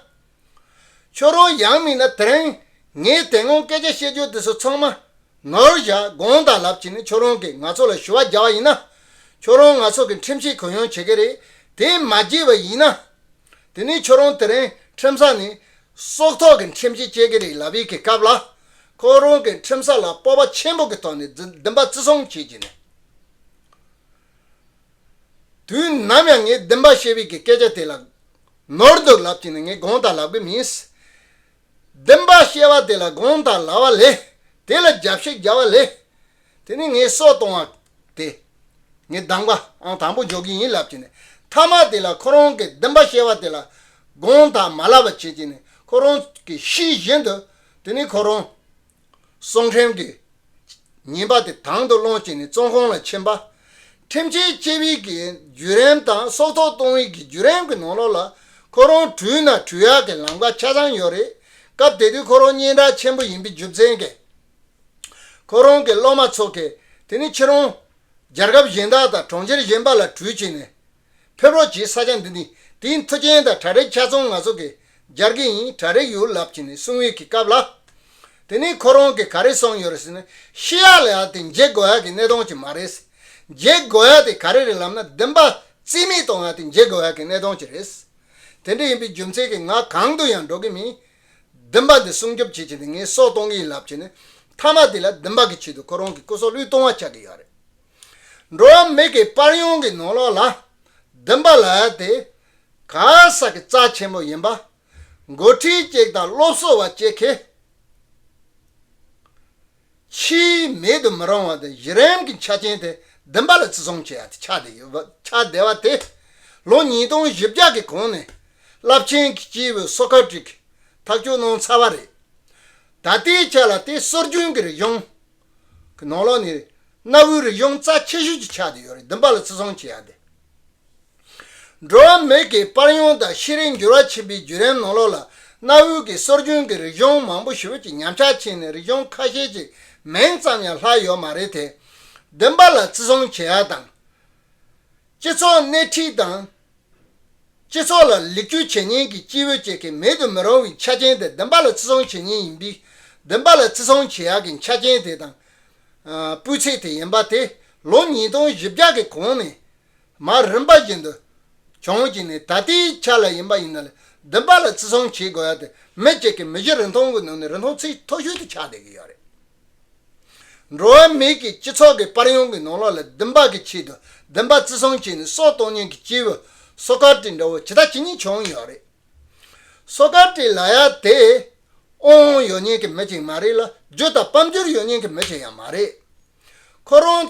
ཁྱོད་རང་ཡང་མིན་ན་དེར་ཨང། ངས་དེ་སྔོན་སྐད་ཆ་བཤད་རྒྱུ་དེ་ཚོ་ཚང་མ། ནོར་བཞག་དགོངས་དག་ལབ་ཀྱི་ནི་ཁྱོད་རང་གིས་ང་ཚོ་ལ་ཞུ་བ་རྒྱག་བ་ཡིན་ན། ཁྱོད་རང་ང་ཚོ་གི་ཁྲིམས་ཆད་གུ་ཡངས་བྱེད་ཀྱི་རེད་དེ་མ་བགྱིས་པ་ཡིན་ན། དེ་ནི་ཁྱོད་རང་དེར་ཨང་ཁྲིམས་ས་ནི། སྲོག་ཐོག་གི་ཁྲིམས་ཆད་བཅད་ཀྱི་རེད་ལབ་ཡི་གི་སྐབས་ལ། ཁོ་རང་གིས་ཁྲིམས་ས་ལ་སྤོབས་པ་ཆེན་པོ་གི་ཐོག་ནས་འཛི་འདི་འབའ་བརྩི་བསྲུང་བྱེད་ཀྱི་ནི། དུས་ནམ་ཡང་ངས་འདི་འབའ་ཤེས་བི་གི་སྐད་ཆ་དེ་ལ། ནོར་འདུག་ལབ་ཀྱི་ནི་ངས་དགོངས་དག་ལགས་པས་མིན། བདེན་པར་གཤེ་བ་དེ་ལ་དགོངས་དག་ལགས་བ་ལས། དེ་ལ་རྒྱབ་བཤད་རྒྱག་བ་ལས། དེ་ནི་ངས་སྲོག་གཏོང་བ་དེ། ངས་སྡང་པ་ཨང་དང་པོ་འཇོག་གི་ཡིན་ལབ་ཀྱི་ནི་མཐའ་མ་དེ་ལ་ཁོ་རང་གིས་བདེན་པ་གཤེ་བ་དེ་ལ་དགོངས་དག་མ་ལགས་པ་བྱེད་ཀྱི་ནི་ཁོ་རང་གི་ཤི་བཞིན་དུ་དེ་ནི་ཁོ་རང་སོང་ཁྲིམས་ཀྱི་ཉིན་པ་དེ་དང་དུ་སློང་བྱས་ནས་བཙོན་ཁང་ལ་ཕྱིན་པ། ཁྲིམས་ཆད་བཅད་དབྱིག་གི་བརྒྱུད་རིམ་དང་སྲོག་ཐོག་གཏོང་དབྱིག་གི་བརྒྱུད་རིམ་གྱི་ནང་ལོགས་ལ་ཁོ་རང་དྲུད་ན་དྲུད་ཡག་གི་ལམ་ཁ་ཆ་ཚང་ཡོད་རེད། སྐབས་དེ་དུས་ཁོ་རང་སྙན་གྲགས་ཆེན་པོ་ཡིན་པའི་རྒྱུ་མཚན་གྱིས། ཁོ་རང་གི་སློབ་མ་ཚོ་གིས་དེ་ནི་ཁྱེད་རང་རྒྱལ་ཁབ་གཞན་དག་དང་གྲོང་ཁྱེར་གཞན་པ་ལ་དྲུད་བྱས་ནས་ཕེབས་རོགས་གྱིས་ས་ཆ་འདི་ནི་དེའི་མཐུ་རྐྱེན་དང་བྲག་རི་ཆ་ཚང་ང་ཚོ་གིས་སྦྱར་གྱི་ཡིན་བྲག་རི་ཡོད་ལབ་ཀྱི་ནི་སྲུང་ཡོལ་གྱི་སྐབས་ལ། དེ་ནི་ཁོ་རང་གིས་ག་རེ་གསུངས་ཡོད་རེད་ཟེར་ན་ཤི་ཡག་ལ་ཡག་དེ་མཇེ་དགོ་ཡག་གི་གནས་སྟངས་ཅིག་མ་རེད། མཇེ་དགོ་ཡག་དེ་ག་རེ་རེད་ལབ་ན་བདེན་པ་རྩིས་མེད་གཏོང་ཡག་དེ་མཇེ་དགོ་ཡག་གི་གནས་སྟངས་ཅིག་རེད། དེ་འདྲ་ཡིན་པའི་རྒྱུ་མཚན་གྱིས་ང་གང་དུ་ཡང་འགྲོ་གི་མིན། བདེན་པ་འདི་སྲུང་སྐྱོབ་བྱེད་ཀྱི་འདི་ངས་སྲོག་གཏོང་གི་ཡིན་ལབ་ཀྱི་ནི་མཐའ་མ་དེ་ལ་བདེན་པ་གི་ཆེད་དུ་ཁོ་རང་གི་སྐུ་སྲོག་བློས་གཏོང་བ་ཆགས་ཀྱི་ཡོད་རེད། འགྲོ་བ་མིག་གི་དཔར་ཡོང་གི་ནོར་ལོག་ལ། བདུན་པ་ལ་དེ་ག་ས་གི་རྩ་ཆེན་པོ་ཡིན་པ། མགོ་ཁྲིད་གཅིག་དང་སློབ་གསོ་བ་གཅིག་གིས། ཕྱིའི་མེད་དུ་མི་རུང་བ་དང་གཞི་རིམ་གྱི་ཆ་རྐྱེན་དེ་བདུན་པ་ལ་བརྩི་སྲུང་བྱེད་ཡ་དེ་ཆགས་བསྡད་ཡོད་པ་ཆགས་བསྡད་པ་དེ་ལོ་ཉིས་སྟོང་བཞི་བརྒྱ་གི་གོང་ནས་རླབས་ཆེན་གྱི་སྤྱིའི་བོད་གསོ་ཁ་བྲིས་ཐག་གཅོད་གནང་ཚར་བ་རེད། ད་ལྟའི་ཆ་ལ་དེ་སྲོལ་རྒྱུན་གྱི་རིག་གཞུང། གི་ནང་ལོགས་ནས་གནའ་བོའི་རིག་གཞུང་རྩ་ཆེ་ཤོས་ཀྱི་ཆགས་ཏེ་ཡོད་རེད་བདུན་པ་ལ་བརྩི་སྲུང་བྱེད་ཡག་སྟེ། འགྲོ་བ་མི་གི་པར་ཡང་དང་ཤེས་རིག་འགྱུར་བ་ཆེན་པོའི་བརྒྱུད་རིམ་ནང་ལོགས་ལ་གནའ་བོའི་གི་སྲོལ་རྒྱུན་གི་རིག་གཞུང་མང་པོ་ཞིག་བོད་ཀྱི་ཉམས་ཆག་ཕྱིན་ནས་རིག་གཞུང་ཁ་ཤས་ཀྱི་མིང་ཙམ་ཡང་ལྷག་ཡོད་མ་རེད་དེ། བདུན་པ་ལ་བརྩི་སྲུང་བྱེད་ཡག་དང། སྤྱི་ཚོགས་སྣེ་ཁྲིད་དང། སྤྱི་ཚོགས་ལ་ལེགས་བཅོས་བྱེད་མཁན་གྱི་སྐྱེས་བུ་བཅས་ཀྱིས་མེད་དུ་མི་རུང་བའི་ཆ་རྐྱེན་དེ་བདུན་པ་ལ་བརྩི་སྲུང་བྱེད་ངེས་ཡིན་པས། བདུན་པ་ལ་བརྩི་སྲུང་བྱེད་ཡག་གི་ཆ་རྐྱེན་དེ་དང། སྤུས་ཚད་དེ་ཡིན་པ་དེ་ལོ་ཉིས་སྟོང་བཞི་བརྒྱ་གི་གོང་ནས་མ་རིམ་པ་བཞིན་དུ་བྱུང་བཅིངས་ནས་ད་ལྟའི་ཆ་ལ་ཡིན་པ་ཡིན་ན་ལ་བདུན་པ་ལ་བརྩི་སྲུང་བྱེད་དགོས་ཡག་དེ་མི་གཅིག་གིས་མི་བཞི་རིན་ཐང་གི་ནང་ནས་རིན་ཐང་ཚད་མཐོ་ཤོས་དེ་ཆགས་བསྡད་ཀྱི་ཡོད་རེད། འགྲོ་བ་མི་གི་སྤྱི་ཚོགས་ཀྱི་པར་ཡོང་གི་ནང་ལོགས་ལ་བདུན་པ་གི་ཆེད་དུ་བདུན་པ་བརྩི་སྲུང་བྱས་ནས་སྲོག་གཏོང་མྱོང་གི་སྐྱེས་བུ་སོ་ཀར་ཏི་འདྲ་བོ་ཇི་ལྟ་ཇི་སྙེད་བྱུང་ཡོད་རེད། སོ་ཀར་ཏི་ལ་ཡ་དེ་ཨོང་ཨོང་ཡོད་མྱོང་གི་མི་ཅིག་མ་རེད་ལ་རྒྱུ་དང་སྤམ་རྒྱུར་ཡོད་མྱོང་གི་མི་ཅིག་ཡང་མ་རེད། ཁོ་རང་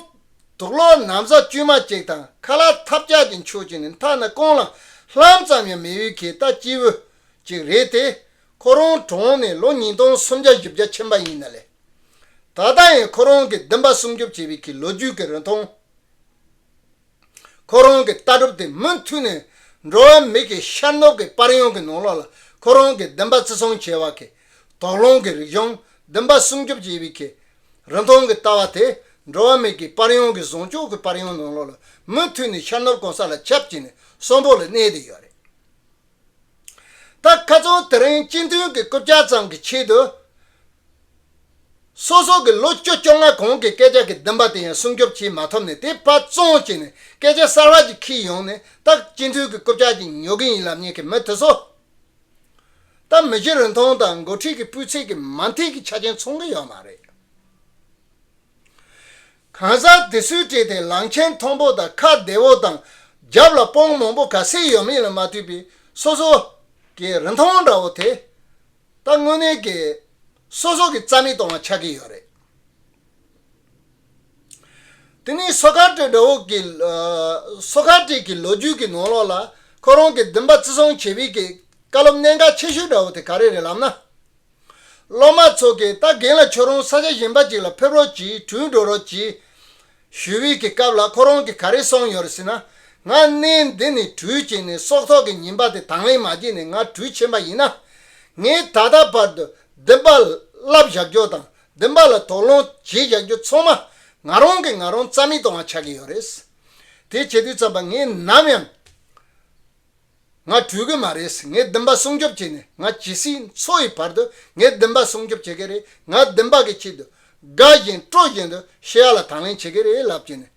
དུག་ལོག་ནམ་ཟ་དཀྱུས་མ་ཅིག་དང་ཁ་ལག་ཐབས་རྒྱག་གི་མཆོག་ཅིག་ནི་མཐའ་ན་རྐང་ལག་ལྷམ་ཙམ་ཡང་མི་ཡོད་གི་ལྟ་སྐྱེས་བུ་ཅིག་རེད་དེ། ཁོ་རང་གྲོངས་ནས་ལོ་ཉིས་སྟོང་སུམ་བརྒྱ་བཞི་བརྒྱ་ཕྱིན་པ་ཡིན་ན་ལས། ད་ལྟ་ཡང་ཁོ་རང་གི་བདུན་པ་སྲུང་སྐྱོབ་བྱེད་པའི་གི་ལོ་རྒྱུས་ཀྱི་རིན་ཐང། ཁོ་རང་གི་ལྟ་གྲུབ་དེ་མུ་མཐུད་ནས་འགྲོ་བ་མི་གི་ཤར་ནུབ་ཀྱི་པར་ཡང་གི་ནང་ལོགས་ལ་ཁོ་རང་གི་བདུན་པ་བརྩི་སྲུང་བྱེད་པ་གི་དོགས་སློང་གི་རིག་གཞུང་བདུན་པ་སྲུང་སྐྱོབ་བྱེད་པའི་གི་རིན་ཐང་གི་ལྟ་བ་དེ་འགྲོ་བ་མི་གི་པར་ཡང་གི་བཟང་ཕྱོགས་གི་པར་ཡང་ནང་ལོགས་ལ་མུ་མཐུད་ནས་ཤར་ནུབ་གང་ས་ལ་ཁྱབ་བྱས་ནས་གསོན་པོ་ལ་གནས་བསྡད་ཡོད་རེད། ད་ཁ་ཚོན་དེ་རིང་སྤྱི་མཐུན་གྱི་རྐུབ་བཀྱག་ཙམ་གྱི་ཆེད་དུ། སོ་སོ་གི་ལོ་བཅུ་བཅོ་ལྔ་གོང་གི་སྐད་ཆ་གི་བདུན་པ་དེ་ཡང་སྲུང་སྐྱོབ་བྱེད་མ་ཐུབ་ནས་དེ་དཔའ་བཙོང་བྱས་ནས་སྐད་ཆ་གསར་བ་ཅིག་ཁྱེར་ཡོང་ནས་ད་སྤྱི་མཐུན་གྱི་རྐུབ་བཀྱག་ཅིག་ཉོ་གི་ཡིན་ལབ་ཉེས་ཀྱི་མི་དེ་ཚོ། ད་མི་གཞི་རིན་ཐང་དང་མགོ་ཁྲིད་ཀྱི་སྤུས་ཚད་ཀྱི་མ་མཐིལ་གྱི་ཆ་རྐྱེན་མཚུངས་གི་ཡོད་མ་རེད། གང་ཟག་དེ་སུས་བྲིས་ཏེ་ལང་ཆེན་མཐོན་པོ་དང་ཁ་བདེ་བོ་དང་རྒྱབ་ལ་སྤོང་མང་པོ་ག་སེ་ཡོད་མིན་ལ་མ་ལྟོས་པའི་སོ་སོ་གི་རིན་ཐང་འདྲ་བོ་དེ་ལྟ་དངོས་གནས་ཀྱི་སོ་སོ་གི་རྩ་མི་སྟོང་བ་ཆགས་ཀྱི་ཡོད་རེད། དེ་ནི་སོ་ཁ་བྲིས་འདྲ་བོ་གི་སོ་ཁ་བྲིས་ཀྱི་ལོ་རྒྱུས་ཀྱི་ནང་ལོགས་ལ་ཁོ་རང་གི་འདུན་པ་བརྩི་སྲུང་བྱེད་པའི་ཀྱི་བཀའ་སློབ་གནད་འགག་ཆེ་ཤོས་འདྲ་བོ་དེ་ག་རེ་རེད་ལབ་ན། སློབ་མ་ཚོ་གིས་ད་གིན་ལ་ཁྱོད་རང་ས་ཆ་གཞན་པ་ཅིག་ལ་ཕེབས་རོགས་གྱིས་དྲུད་འགྲོ་རོགས་གྱིས། ཞུ་བིས་ཀྱི་སྐབས་ལ་ཁོ་རང་གིས་ག་རེ་གསུངས་ཡོད་རེད་ཟེར་ན། ང་གནས་འདི་ནས་དྲུད་ཅིག་ནས་སྲོག་ཐོག་གི་ཉིན་པ་དེ་དང་ལེན་མ་བགྱིས་ནས་ང་དྲུད་ཕྱིན་པ་ཡིན་ན། ངས་ད་ལྟ་བར་དུ་འདི་འབའ་ལབ་བཞག་རྒྱུ་དང་འདི་འབའ་ལ་དོགས་སློང་བྱེད་བཞག་རྒྱུ་ཚང་མ་ང་རང་གིས་ང་རང་རྩ་མེད་གཏོང་བ་ཆགས་ཀྱི་ཡོད་རེད། དེ་བྱེད་དུས་ཙམ་པ་ངས་ནམ་ཡང། ང་བྲོས་གི་མ་རེད་ངས་བདུན་པ་སྲུང་སྐྱོབ་བྱས་ནས་ང་ཇི་སྲིད་འཚོ་ཡི་བར་དུ་ངས་བདུན་པ་སྲུང་སྐྱོབ་བྱེད་གི་རེད་ང་བདུན་པ་གི་ཆེད་དུ་དགའ་བཞིན་སྤྲོ་བཞིན་དུ་ཤི་ཡ་ལ་དང་ལེན་བྱེད་གི་རེད་ལབ་ཀྱིན་ནས་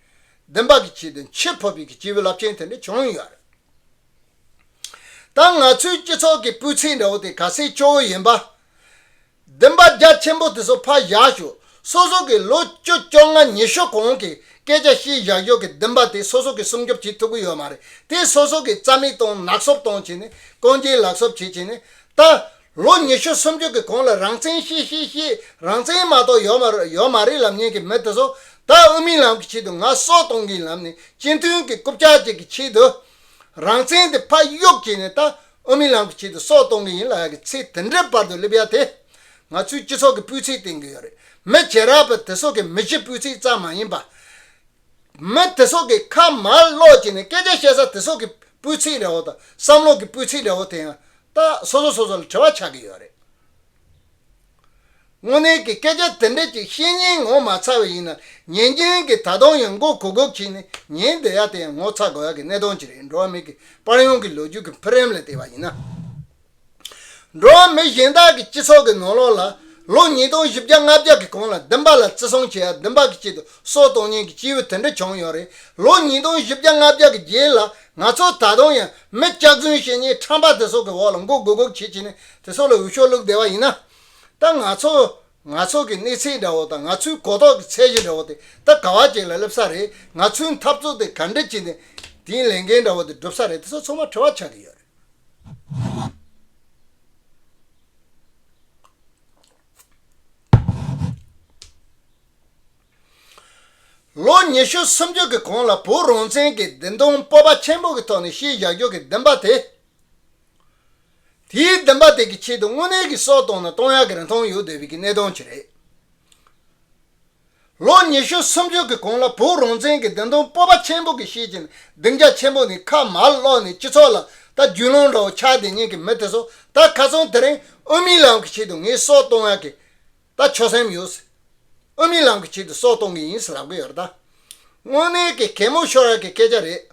བདུན་པ་གི་ཆེད་དུ་འཆི་ཕོ་བི་གི་སྐྱེས་བུ་རླབས་ཆེན་དེ་འདྲ་བྱུང་ཡོད་རེད་ད་ང་ཚོའི་སྤྱི་ཚོགས་ཀྱི་སྤུས་ཚད་འདྲ་བོ་དེ་ག་སའི་སྐྱོ་བོ་ཡིན་པ། བདེན་པ་རྒྱ་ཆེན་པོ་དེ་སོ་ཕག་བཞག་ཞོག་སོ་སོ་གིས་ལོ་བཅུ་བཅོ་ལྔ་ཉི་ཤོ་གོང་གི་སྐད་ཆ་ཤེས་བཞག་ཞོག་གི་བདེན་པ་དེ་སོ་སོ་གིས་སྲུང་སྐྱོབ་བྱེད་ཐུབ་ཀྱི་ཡོད་མ་རེད་དེ་སོ་སོ་གིས་རྩ་མེད་གཏོང་ནག་གསོབ་གཏོང་བྱེད་ནས་རྐང་རྗེས་ལག་གསོབ་བྱེད་བྱེད་ནས་ད་ལོ་ཉི་ཤུ་སུམ་ཅུ་གི་གོང་ལ་རང་བཙན་ཤེས་ཤེས་ཤེས་རང་བཙན་མ་ཏོག་ཡོད་མ་ཡོད་མ་རེད་ལབ་ཉན་གི་མི་དེ་སོ་ད་དབུ་མའི་ལམ་གི་ཆེད་དུ་ནག་གསོ་གཏོང་གི་ལམ་ནས་སྤྱི་མཐུན་གི་རྐུབ་ལྕག་ཅིག་གི་ཆེད་དུ་རང་བཙན་དེ་ཕ་གཡུག་བྱེད་ནས་ད་ཨོ་མི་ལང་གི་ཆེད་དུ་སྲོག་གཏོང་གི་ཡིན་ལ་ཡག་གི་ཚེ་དེ་འདྲའི་བར་དུ་སླེབས་ཡག་དེ། ང་ཚོའི་སྤྱི་ཚོགས་ཀྱི་སྤུས་ཚད་བརྟན་གི་ཡོད་རེད་མི་བྱེ་རག་པ་དེ་སོགས་ཀྱི་མི་གཞི་སྤུས་ཚད་ཙམ་མ་ཡིན་པ། མི་དེ་སོགས་ཀྱི་ཁ་མར་སློག་བྱས་ནས་སྐད་ཆ་བཤད་ས་དེ་སོགས་ཀྱི་སྤུས་ཚད་ལེའོ་དང་བསམ་བློ་གྱི་སྤུས་ཚད་ལེའོ་དེ་ཡང་ཏག་སོ་སོ་སོ་སོ་ལ་དྲི་བ་ཆགས་གི་ཡོད་རེད། དངོས་གནས་ཀྱི་སྐད་ཆ་དེ་འདྲ་ཅིག་བཤེས་གཉེན་ངོ་མ་ཚ་བ་ཡིན་ན་ཉན་རྒྱུན་གྱི་ད་དུང་ཡང་མགོ་གུག་གུག་བྱས་ནས་ཉན་བསྡད་ཡ་དེ་ཡང་ངོ་ཚ་དགོས་ཡ་གི་གནས་སྟངས་ཅིག་རེད་འགྲོ་བ་མི་གི་པར་ཡོང་གི་ལོ་རྒྱུས་ཀྱི་འཕེལ་རིམ་ལ་བལྟས་པ་ཡིན་ན། འགྲོ་བ་མི་གཞན་དག་གི་སྤྱི་ཚོགས་ཀྱི་ནོར་ལོག་ལ་ལོ་ཉིས་སྟོང་བཞི་བརྒྱ་ལྔ་བརྒྱ་གི་གོང་ལ་བདུན་པ་ལ་བརྩི་སྲུང་བྱེད་ཡ་བདུན་པ་གི་དཀྱིལ་དུ་སྲོག་གཏོང་ཉེན་གྱི་སྐྱེས་བུ་དེ་འདྲ་བྱུང་ཡོད་རེད་ལོ་ཉིས་སྟོང་བཞི་བརྒྱ་ལྔ་བརྒྱ་གི་རྗེས་ལ་ང་ཚོ་ད་དུང་ཡང་མི་སྐྱག་རྫུན་བཤེས་གཉེན་ཁྲམ་པ་དེ་སོགས་ཀྱི་འོག་ལ་མགོ་གུག་གུག་བྱེད་བྱེད་ནས་དེ་ཚོ་ལ་འོས་ཤོག་བླུགས་བསྡད་པ་ཡིན་ན། ད་ང་ཚོ། ང་ཚོ་གི་གནས་ཚད་འདྲ་བོ་དང་ང་ཚོའི་གོ་རྟོགས་ཀྱི་ཚད་གཞི་འདྲ་བོ་དེ་ད་ག་བ་ཅིག་ལ་སླེབས་ས་རེད་ང་ཚོའི་འཐབ་རྩོད་དེ་ག་འདྲི་གྱིས་ནས་དེའི་ལས་འགན་འདྲ་བོ་དེ་བསྒྲུབ་ས་རེད་དེ་ཚོ་ཚང་མ་དྲི་བ་ཆགས་ཀྱི་ཡོད་རེད། ལོ་ཉི་ཤུ་སུམ་ཅུ་གི་གོང་ལ་བོད་རང་བཙན་གྱི་བདེན་དོན་སྤོབས་པ་ཆེན་པོ་གི་ཐོག་ནས་ཤེས་བཞག་རྒྱུགས་ཀྱི་བདེན་པ་དེ་དེའི་བདེན་པ་དེ་གི་ཆེད་དུ་དངོས་གནས་ཀྱི་སྲོག་གཏོང་ན་གཏོང་ཡག་གི་རིན་ཐང་ཡོད་འདོད་པའི་གི་གནད་དོན་གྱི་རེད། ལོ་ཉི་ཤུ་སུམ་ཅུ་གི་གོང་ལ་བོད་རང་བཙན་གྱི་བདེན་དོན་སྤོབས་པ་ཆེན་པོ་གི་ཤེས་ཀྱི་སྡིངས་ཆ་ཆེན་པོ་ནི་ཁ་མར་བསློགས་ནས་སྤྱི་ཚོགས་ལ་ད་རྒྱུས་ལོང་འདྲ་བོ་ཆགས་དེ་ཉིན་གྱི་མི་དེ་ཚོ་ད་ག་ཚོང་དེ་རིང་དབུ་མའི་ལམ་གྱི་ཆེད་དུ་ངས་སྲོག་གཏོང་ཡག་གི་ད་ཆོས་སེམས་ཡོད། ཨོ་མི་ལང་གི་ཆེད་དུ་སྲོག་གཏོང་གི་ཡིན་ཟེར་རག་པའི་ཡོད་ད། དངོས་གནས་ཀྱི་གད་མོ་ཤོར་རག་གི་སྐད་ཆ་རེད།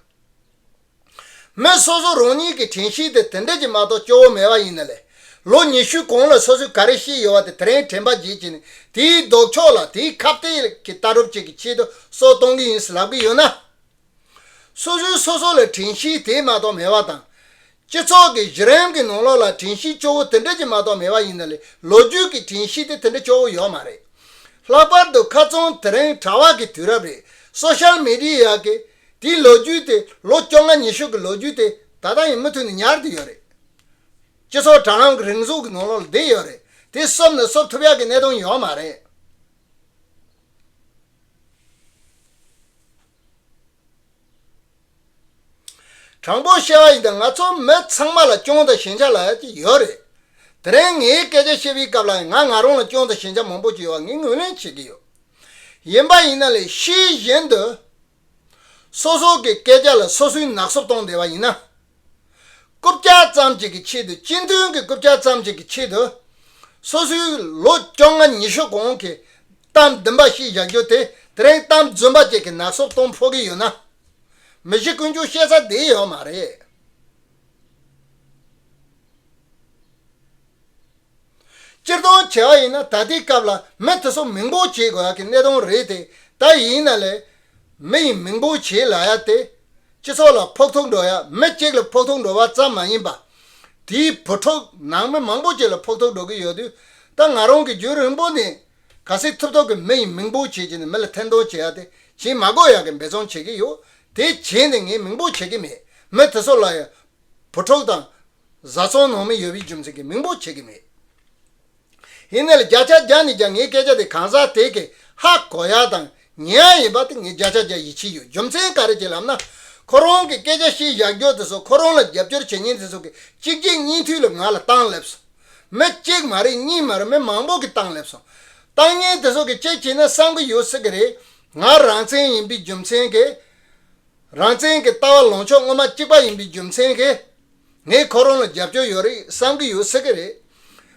མི་སོ་སོ་རང་ཉིད་ཀྱི་དྲན་ཤེས་དེ་དེ་འདྲ་ཅིག་མ་གཏོགས་སྐྱོ་བོ་མེད་པ་ཡིན་ན་ལས། ལོ་ཉི་ཤུའི་གོང་ལ་སོ་སོས་ག་རེ་ཤེས་ཡོད་བ་དེ་དེ་རིང་དྲན་པ་བརྗེད་ཀྱི་ནས་དེའི་ལྡོག་ཕྱོགས་ལ་དེའི་ཁ་བརྟད་ཀྱི་ལྟ་གྲུབ་ཅིག་གི་ཆེད་དུ་སྲོག་གཏོང་གི་ཡིན་ཟེར་རག་པའི་ཡོད་ན། སོ་སོའི་སོ་སོ་ལ་དྲན་གཤིས་དེ་མ་གཏོགས་མེད་པ་དང། སྤྱི་ཚོགས་ཀྱི་གཞི་རིམ་གྱི་ནང་ལོགས་ལ་དྲན་གཤིས་སྐྱོ་བོ་དེ་འདྲ་ཅིག་མ་གཏོགས་མེད་པ་ཡིན་ན་ལས་ལོ་རྒྱུས་ཀྱི་དྲན་གཤིས་དེ་དེ་འདྲ་སྐྱོ་བོ་ཡོད་མ་རེད། ལྷག་པར་དུ་ཁ་ཚོན་དེ་རིང་དྲ་བ་གི་དུས་རབས་རེད་སོ་ཤལ་མི་རི་ཡ་གི་དེའི་ལོ་རྒྱུས་དེ་ལོ་བཅོ་ལྔ་ཉི་ཤུ་གི་ལོ་རྒྱུས་དེ་ད་ལྟ་ཡང་མུ་མཐུད་ནས་ཉར་དུ་ཡོད་རེད། སྤྱི་ཚོགས་དྲ་ལམ་གི་རིང་གཟུགས་ཀྱི་ནང་ལོགས་ལ་བསྡད་ཡོད་རེད་དེ་གསོབ་ནས་གསོབ་ཐུབ་ཡག་གི་གནད་དོན་ཡོད་མ་རེད། དྲང་པོ་བཤད་པ་ཡིན་ད་ང་ཚོ་མི་ཚང་མ་ལ་སྐྱོན་དང་ཞན་ཆ་ལ་ཅིག་ཡོད་རེད་དེ་རིང་ངའི་སྐད་ཆ་བཤད་པའི་སྐབས་ལ་ང་ང་རང་ལ་སྐྱོན་དང་ཞན་ཆ་མང་པོ་ཅིག་ཡོད་པ་ངས་ངོས་ལེན་བྱེད་ཀྱི་ཡོད་ཡིན་པ་ཡིན་ན་ལས་གཞི་གཞན་དུ་སོ་སོ་གི་སྐད་ཆ་ལ་སོ་སོའི་ནག་སོབ་གཏོང་བསྡད་པ་ཡིན་ན། རྐུབ་བཀྱག་ཙམ་ཞིག་གི་ཆེད་དུ་སྤྱི་མཐུན་གྱི་རྐུབ་བཀྱག་ཙམ་ཞིག་གི་ཆེད་དུ། སོ་སོའི་ལོ་བཅོ་ལྔ་ཉི་ཤུ་གོང་གི་གཏམ་བདུན་པ་ཞིག་བཞག་རྒྱུ་དེ་དེ་རིང་གཏམ་རྫུན་པ་བཅས་ཀྱི་ནག་སོབ་གཏོང་ཕོག་གི་ཡོད་ན། མི་གཞི་ཀུན་ཅུང་ཤེས་ཚ་བསྡད་ཡོད་མ་རེད། སྤྱིར་བཏང་བྱེད་ཨ་ཡིན་ན་ད་ལྟའི་སྐབས་ལ་མི་དེ་ཚོ་མིང་པོ་བྱེད་དགོས་ཨ་གི་གནས་སྟངས་རེད་དེ་ད་ཡིན་ན་ལས། མི་ཡིན་མིང་པོ་བྱེད་ལ་ཡ་དེ། སྤྱི་ཚོགས་ལ་ཕོག་ཐུག་འགྲོ་ཡ་མི་གཅིག་ལ་ཕོག་ཐུག་འགྲོ་བ་ཙམ་མ་ཡིན་པ། དེའི་བུ་ཕྲུག་ནང་མི་མང་པོ་གཅིག་ལ་ཕོག་ཐུག་འགྲོ་གི་ཡོད་དུས་ད་ང་རང་གི་རྒྱུན་རིང་པོ་ནས་ག་སེ་ཐུབ་ཐོབ་ཀི་མི་ཡིན་མིང་པོ་བྱེད་ཀྱི་ནས་མི་ལ་ཐེར་འདོན་བྱེད་ཡ་དེ་བྱིན་མ་དགོས་ཡ་གི་འབད་བརྩོན་བྱེད་ཀི་ཡོད་དེ་བྱིན་ནས་ངས་མིང་པོ་བྱེད་ཀི་མེད་མི་དེ་ཚོ་ལ་ཡ། བུ་ཕྲུག་དང། བཟའ་ཚང་ནང་མི་ཡོད་པའི་རྒྱུ་མཚན་གྱིས་མིང་པོ་བྱེད་ཀྱི་མེད། ཡིན་ནའི་བརྒྱ་ཆ་བརྒྱ་ནི་ཀྱང་ངའི་སྐད་ཆ་དེ་གང་ཟག་དེ་གས་ཧ་གོ་ཡ་དང་ཉན་ཡ་ཡིན་པ་དེ་ངས་བརྒྱ་ཆ་བརྒྱ་ཡིད་ཆེས་ཡོད་རྒྱུ་མཚན་ག་རེ་བྱེད་ལབ་ན། ཁོ་རང་གི་སྐད་ཆ་བཤད་བཞག་རྒྱུ་དེ་ཚོ་ཁོ་རང་ལ་རྒྱབ་སྐྱོར་བྱེད་མཁན་དེ་ཚོ་གིས་གཅིག་རྗེས་གཉིས་མཐུད་ལ་ང་ལ་བཏང་སླེབས་སོང། མི་གཅིག་མ་རེད་གཉིས་མ་རེད་མི་མང་པོ་གིས་བཏང་སླེབས་སོང། བཏང་མཁན་དེ་ཚོ་གིས་ཅི་བྱས་ན་བསམ་གྱི་ཡོད་སྲིད་གི་རེད། ང་རང་བཙན་ཡིན་པའི་རྒྱུ་མཚན་གྱིས། རང་བཙན་གྱི་ལྟ་བ་ལོངས་ཕྱོགས་དངོས་མ་གཅིག་པ་ཡིན་པའི་རྒྱུ་མཚན་གྱིས། ངས་ཁོ་རང་ལ་རྒྱབ་སྐྱོར་ཡོད་རེད་བསམ་གྱི་ཡོད་སྲིད་ཀྱི་རེད།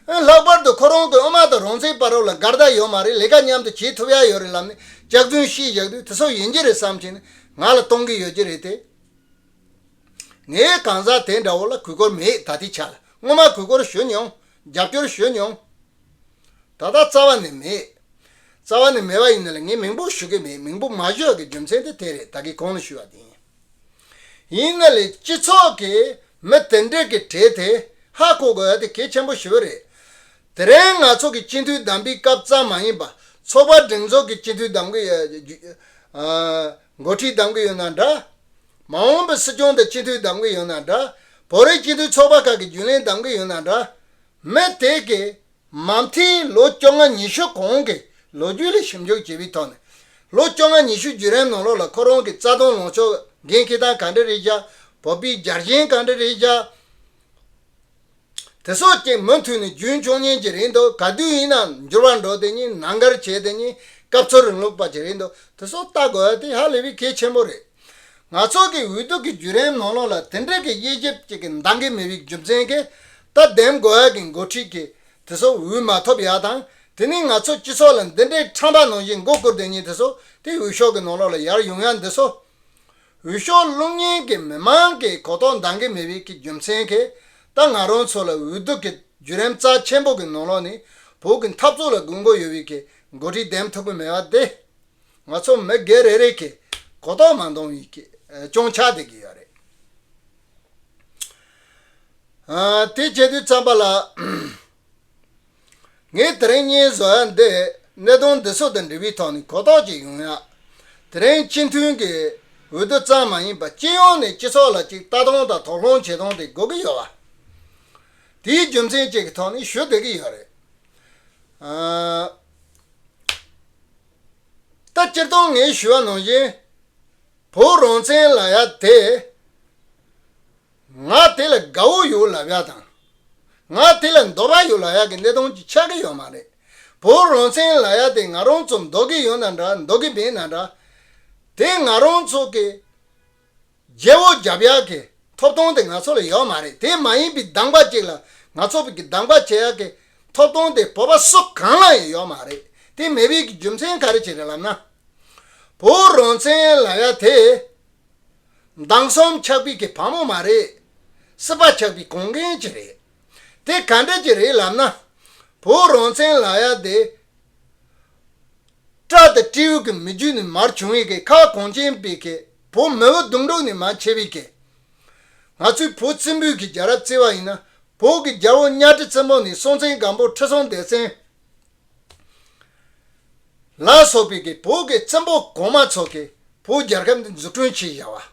འོན་ལྷག་པར་དུ་ཁོ་རང་གི་དབུ་མ་དང་རང་བཙན་པ་རབས་ལ་དགའ་རྟགས་ཡོད་མ་རེད་ལས་ཀ་མཉམ་དུ་བྱེད་ཐུབ་ཡ་ཡོད་རེད་ལབ་ནས་སྐྱག་རྫུན་བཤད་བཞག་དུས་དེ་སོགས་ཡིན་གྱི་རེད་བསམ་གྱིན་ང་ལ་གཏོང་གི་ཡོད་ཀྱི་རེད་དེ། ངའི་གང་ཟག་དེ་འདྲ་བོ་ལ་གུས་བཀུར་མེད་ད་ལྟའི་ཆ་ལ་སྔོན་མ་གུས་བཀུར་ཞུས་མྱོང། རྒྱབ་སྐྱོར་ཞུས་མྱོང། ད་ལྟ་རྩ་བ་ནས་མེད། རྩ་བ་ནས་མེད་པ་ཡིན་ན་ལ་ངས་མིང་པོ་ཞུ་གི་མེད་མིང་པོ་མ་བཞོག་གི་རྒྱུ་མཚན་དེ་དེ་རེད་ད་གི་གོང་ལ་ཞུས་བ་དེ་ཡིན། ཡིན་ན་ལ་སྤྱི་ཚོགས་ཀྱི་མི་དེ་འདྲས་ཀྱི་གྲས་དེ་ཧ་གོ་དགོས་བ་དེ་གལ་ཆེན་པོ་ཞིག་རེད། དེ་རིང་ང་ཚོ་གི་སྤྱི་འཐུས་བདམས་པའི་སྐབས་ཙམ་མ་ཡིན་པ་ཚོགས་པ་སྒྲིག་འཛུགས་ཀྱི་སྤྱི་འཐུས་བདམས་འགོ་ཁྲིད་གདམ་གི་ཡོད་ན་འདྲ། མ་འོངས་པའི་སྲིད་སྐྱོང་དང་སྤྱི་འཐུས་གདམ་གི་ཡོད་ན་འདྲ། བོད་རིགས་སྤྱི་འཐུས་ཚོགས་པ་ཁག་གི་རྒྱུན་ལས་གདམ་གི་ཡོད་ན་འདྲ། མི་དེ་གས་མ་མཐིལ་ལོ་བཅོ་ལྔ་ཉི་ཤུ་གོང་གི་ལོ་རྒྱུས་ལ་ཞིབ་འཇུག་བྱས་པའི་ཐོག་ནས། ལོ་བཅོ་ལྔ་ཉི་ཤུ་བརྒྱུད་རིམ་ནང་ལོགས་ལ་ཁོ་རང་གི་རྩ་དོན་ལོངས་ཕྱོགས་འགན་འཁི་སྟངས་ག་འདྲ་རེད་བཞག་བོད་པའི་རྒྱ་རྒྱན་གང་འདྲ་རེད་བཞག། དེ་སོགས་ཀྱིས་མུ་མཐུད་ནས་རྒྱུན་འཁྱོངས་ཉིན་གྱི་རིང་དུ་ག་དུས་ཡིན་ནའང་འགྱུར་བ་འགྲོ་དེ་ཉིད་ནང་འགར་བྱེད་དེ་ཉིད་སྐབས་འཚོལ་རིང་ལུགས་པ་གྱི་རིང་དུ་དེ་སོགས་ལྟ་དགོས་པ་དེ་ཧ་ལས་པའི་གལ་ཆེན་པོ་རེད། ང་ཚོ་གི་འོས་བསྡུ་གི་བརྒྱུད་རིམ་ནང་ལོགས་ལ་དེ་འབྲེལ་གྱི་དབྱེ་ཞིབ་ཅིག་གི་འདང་གི་མི་བའི་རྒྱུ་མཚན་གྱིས་ལྟ་འདེམས་དགོས་ཡག་གི་འགོ་ཁྲིད་ཀྱིས་དེ་སོགས་འོས་མ་ཐོབ་ཡག་དང་དེ་ནི་ང་ཚོ་སྤྱི་ཚོགས་ལ་འདི་འདྲའི་ཁྲམ་པ་ནང་བཞིན་མགོ་བསྐོར་དེ་ཉིད་དེ་སོགས་དེ་འོས་ཤོག་གི་ནང་ལོགས་ལ་ཡར་ཡོང་ཡང་འདི་སོགས་འོས་ཤོག་བླུག་ཉེན་གྱི་མི་མང་གི་གོ་རྟོགས་འདང་གི་མེད་པའི་གི་རྒྱུ་མཚན་གྱིས་ད་ང་རང་ཚོ་ལ་འོས་ལྡུག་གི་བརྒྱུད་རིམ་རྩ་ཆེན་པོ་གི་ནང་ལོགས་ནས་བོད་གི་འཐབ་རྩོད་ལ་དགོས་མཁོ་ཡོད་པའི་གི་འགོ་ཁྲིད་འདེམས་ཐུབ་གི་མེད་པ་དེ་ང་ཚོ་མི་སྒེར་རེ་རེ་གི་གོ་རྟོགས་མ་འདང་བའི་གི་སྐྱོང་ཆགས་བསྡད་གི་ཡོད་རེད། དེ་བྱེད་དུས་རྩམ་པ་ལ། ངས་དེ་རིང་བརྙན་བཟོ་བ་འདིས་གནད་དོན་འདི་ཚོ་དང་འབྲེལ་བའི་ཐོག་ནས་གོ་རྟོགས་ཅིག་ཡོང་ཡ། དེ་རིང་སྤྱི་མཐུན་གྱི་འོས་བསྡུ་ཙམ་མ་ཡིན་པ་སྤྱི་ཡོངས་ནས་སྤྱི་ཚོགས་ལ་ཅིག་ལྟ་སྟངས་དང་དོགས་སློང་བྱེད་སྟངས་དེ་དགོས་ཀྱི་ཡོད། དེའི་རྒྱུ་མཚན་བཅས་ཀྱི་ཐོག་ནས་ཞུ་བསྡད་ཀྱི་ཡོད་རེད། ད་སྤྱིར་བཏང་ངས་ཞུ་བ་ནང་བཞིན་བོད་རང་བཙན་ལ་ཡ་དེ། ང་དེ་ལ་དགའ་བོ་ཡོད་ལབ་ཡག་དང། ང་དེ་ལ་འདོད་པ་ཡོད་ལབ་ཡག་གི་གནད་དོན་གཅིག་ཆགས་ཀྱི་ཡོད་མ་རེད། བོད་རང་བཙན་ལབ་ཡག་དེ་ང་རང་ཚོ་འདོད་ཀྱི་ཡོད་ན་འདྲ་འདོད་ཀྱི་མེད་ན་འདྲ། དེ་ང་རང་ཚོ་གི། རྒྱལ་བོ་རྒྱབ་ཡག་གི་ཐོབ་ཐང་དེ་ང་ཚོ་ལ་ཡོད་མ་རེད་དེ་མ་ཡིན་པའི་སྡང་པ་ཅིག་ལ་ང་ཚོ་བོད་ཀྱི་སྡང་པ་བྱེད་ཡག་གི་ཐོབ་ཐང་དེ་བོད་པ་སུ་གང་ལ་ཡང་ཡོད་མ་རེད་དེ་མེད་པའི་གི་རྒྱུ་མཚན་ག་རེ་བྱེད་རེད་ལབ་ན། བོད་རང་བཙན་ལབ་ཡག་དེ། མདང་གསུམ་ཆགས་པའི་གི་བ་མོ་མ་རེད། སྲིད་པ་ཆགས་པའི་གོང་རྒན་གྱི་རེད། དེ་ག་འདྲ་གྱི་རེད་ལབ་ན། བོད་རང་བཙན་ལ་ཡ་དེ། སྤྲ་དང་སྤྲེའུ་གི་མི་རྒྱུད་ནས་མར་བྱུང་བའི་གི་ཁ་གོང་ཅན་པའི་གི་བོ་མི་བོ་རྡུང་དཀྲུག་ནས་མ་མཆེད་པའི་གི། ང་ཚོའི་བོད་བཙན་པོའི་གི་རྒྱལ་རབས་བརྩི་བ་ཡིན་ན་བོད་གི་རྒྱལ་བོ་གཉའ་ཁྲི་བཙན་པོ་ནས་སྲོང་བཙན་སྒམ་པོ་ཁྲི་སྲོང་ལྡེ་བཙན། ལ་སོགས་པའི་གི་བོད་ཀྱི་བཙན་པོ་གོང་མ་ཚོ་གི་བོད་རྒྱལ་ཁབ་འདི་འཛུགས་སྐྲུན་བྱེད་བཞག་བ།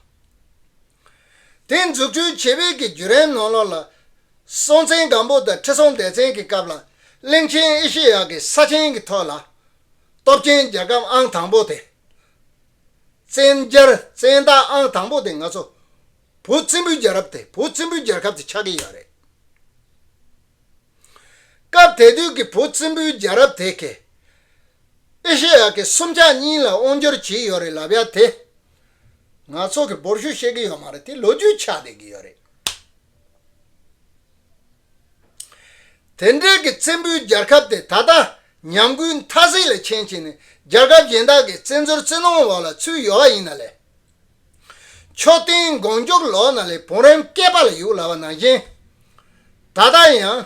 དེ་འཛུགས་སྐྲུན་བྱེད་པའི་གི་བརྒྱུད་རན་ནོ་ལོ་ལ་སྲོང་བཙན་སྒམ་པོ་དང་ཁྲི་སྲོང་ལྡེ་བཙན་གི་སྐབས་ལ་གླིང་ཆེན་ཨེ་ཤེ་ཡ་གི་ས་ཆེན་གི་ཐོག་ལ་སྟོབས་ཆེན་རྒྱལ་ཁབ་ཨང་དང་པོ་དེ་བཙན་རྒྱལ་བཙན་བདག་ཨང་དང་པོ་དེ་ང་ཚོ་བོད་བཙན་པོའི་རྒྱལ་རབས་དེ་བོད་བཙན་པོའི་རྒྱལ་ཁབ་དེ་ཆགས་གི་ཡོད་རེད། སྐབས་དེ་དུས་ཀྱི་བོད་བཙན་པོའི་རྒྱལ་རབས་དེ་གས། ཨེ་ཤེ་ཡ་གི་སུམ་ཆ་གཉིས་ལ་དབང་བསྒྱུར་བྱས་ཡོད་རེད་ལབ་ཡ་དེ། ང་ཚོ་གི་འབོར་ཤུགས་ཤེས་ཀྱི་ཡོད་མ་རེད་དེ་ལོ་རྒྱུས་ཆགས་བསྡད་ཀྱི་ཡོད་རེད། དེ་འབྲེལ་གྱི་བཙན་པོའི་རྒྱལ་ཁབ་དེ་ད་ལྟ་ཉམས་རྒུད་མཐའ་གཟིགས་ལས་ཆེན་བྱས་ནས་རྒྱལ་ཁབ་གཞན་དག་གི་བཙན་འཛུལ་བཙན་གནོང་འོག་ལ་ཚུད་ཡོད་པ་ཡིན་ན་ལས། མཆོག་སྟོན་དགོངས་རྒྱུགས་ལོག་ན་ལས་བུང་རམ་སྐེད་པ་ལ་ཡུག་ལ་བ་ནང་བཞིན། ད་ལྟ་ཡང།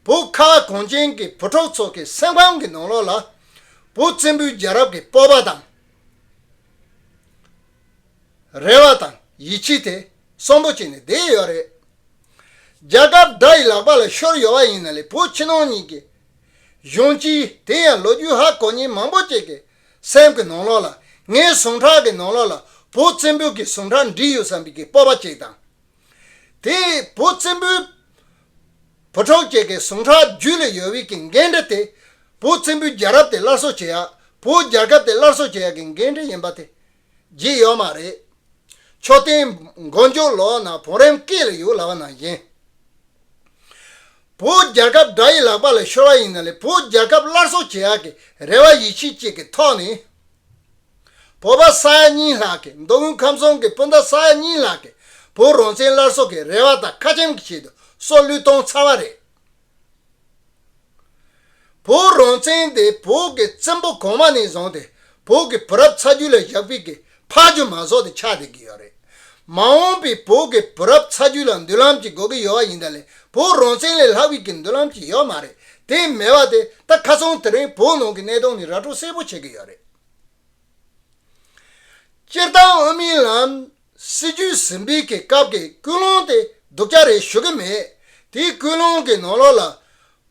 བུ་ཁ་བ་གོང་ཅན་གྱི་བུ་གྲོགས་ཚོགས་ཀྱི་སེམས་ཁམས་ཀྱི་ནང་ལོགས་ལ། བུ་བཙན་པོའི་རྒྱལ་རབས་ཀྱི་སྤོབས་པ་དང། རེ་བ་དང་ཡིད་ཆེས་དེ་གསོན་པོ་བྱས་ནས་བསྡད་ཡོད་རེད། རྒྱ་གབ་དགྲ་ཡི་ལག་པ་ལ་ཤོར་ཡོད་བ་ཡིན་ན་ལས་བུ་ཕྱི་ནང་གཉིས་ཀྱི། གཞོན་སྐྱེས་དེ་ཡང་ལོ་རྒྱུས་ཧ་གོ་ཉན་མང་པོ་བཅས་ཀྱི་སེམས་ཀྱི་ནང་ལོགས་ལ་ངའི་ཟུངས་ཁྲག་གི་ནང་ལོགས་ལ་བུ་བཙན་པོའི་གི་ཟུངས་ཁྲག་འདྲིས་ཡོད་བསམ་པའི་གི་སྤོབས་པ་ཅིག་དང། དེ་བུ་བཙན་པོའི་བུ་གྲོགས་ཅིག་གི་ཟུངས་ཁྲག་རྒྱུད་ལ་ཡོད་བའི་གི་འགན་འཁྲི་དེ་བུ་བཙན་པོའི་རྒྱལ་རབས་དེ་སླར་གསོ་བྱེད་ཡག་བུ་རྒྱལ་ཁབ་དེ་སླར་གསོ་བྱེད་ཡག་གི་འགན་འཁྲི་ཡིན་པ་དེ་བརྗེད་ཡོད་མ་རེད། མཆོད་རྟེན་མགོ་མཇུག་ལོགས་ན་བུ་རེམ་སྐེ་ལ་ཡུག་ལ་བ་ན་བཞིན། བོད་རྒྱལ་ཁབ་དགྲ་ཡི་ལག་པ་ལ་ཤོར་བ་ཡིན་ན་ལས་བོད་རྒྱལ་ཁབ་སླར་གསོ་བྱེད་ཡག་གི་རེ་བ་ཡིད་ཆེས་བཅས་ཀྱི་ཐོག་ནས། བོད་པ་ས་ཡ་གཉིས་ལྷག་གིས་མདོ་དབུས་ཁམས་གསུམ་གྱི་སྤུན་ཟླ་ས་ཡ་གཉིས་ལྷག་གིས་བོད་རང་བཙན་སླར་གསོ་གི་རེ་བ་དང་ཁ་ཆེམས་ཀྱི་ཆེད་དུ་སྲོག་བློས་བཏང་ཚར་བ་རེད། བོད་རང་བཙན་དེ་བོད་ཀྱི་བཙན་པོ་གོང་མ་ནས་བཟུང་སྟེ་བོད་ཀྱི་བུ་རབས་ཚ་རྒྱུད་ལ་བཞག་པིག་གིས་ཕག་རྒྱུ་མ་ཟོག་དེ་ཆགས་བསྡད་ཀྱི་ཡོད་རེད། མ་འོངས་པའི་བོད་ཀྱི་བུ་རབས་ཚ་རྒྱུད་ལ་མདུན་ལམ་ཅིག་དགོས་ཀྱི་ཡོད་པ་ཡིན་ད་ལན་བོད་རང་བཙན་ལས་ལྷག་པིག་གི་མདུན་ལམ་ཅིག་ཡོད་མ་རེད་དེ་མེད་པ་དེ་ད་ཁ་ཚོང་དེ་རིང་བོད་ནང་གི་གནས་སྟངས་ནི་ར་སྤྲོད་གསལ་པོ་བྱེད་ཀྱི་ཡོད་རེད། སྤྱིར་བཏང་དབུ་མའི་ལམ་སྲིད་ཇུས་ཟིན་པིག་གི་སྐབས་ཀྱི་ཀུན་སློང་དེ་སྡུག་ཅག་རེད་ཞུ་གི་མེད་དེའི་ཀུན་སློང་གི་ནང་ལོགས་ལ་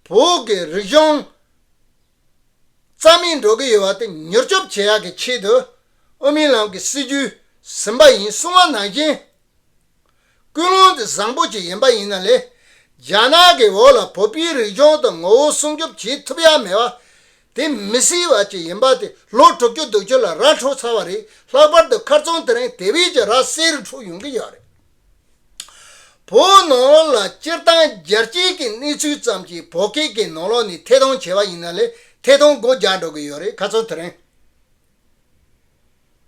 བོད་ཀྱི་རིག་གཞུང་རྩ་མེད་འགྲོ་གི་ཡོད་པ་དེ་མྱུར་སྐྱོབ་བྱེད་ཡག་གི་ཆེད་དུ་ཨོ་མིན་ལམ་གྱི་སྲིད་ཇུས་ཟིན་པ་ཡིན་གསུང་བ་ནང་བཞིན་ཀུན་སློང་དེ་བཟང་པོ་ཅིག་ཡིན་པ་ཡིན་ན་ལས་རྒྱ་ནག་གི་འོག་ལ་བོད་པའི་རིག་གཞུང་དང་ངོ་བོ་སྲུང་སྐྱོབ་བྱེད་ཐུབ་ཡག་མེད་པ་དེ་མི་སྲིད་པ་ཅིག་ཡིན་པ་དེ་ལོ་དྲུག་ཅུ་བདུག་ཅུ་ལ་ར་འཕྲོག་ཚར་བ་རེད་ལྷག་པར་དུ་མཁར་རྫོང་དེ་རིང་དེ་བས་ཀྱི་ར་བསེ་རུ་འཁྲུག་ཡོང་གི་ཡོད་རེད། བོད་ནང་ལོགས་ལ་སྤྱིར་བཏང་རྒྱལ་སྤྱིའི་གི་གནས་ཚུལ་ཙམ་གྱིས་བོད་སྐད་ཀྱི་ནང་ལོགས་ནི་ཐད་གཏོང་བྱས་པ་ཡིན་ན་ལས་ཐད་གཏོང་སྒོ་རྒྱག་འགྲོ་གི་ཡོད་རེད་ཁ་ཚོན་དེ་རིང་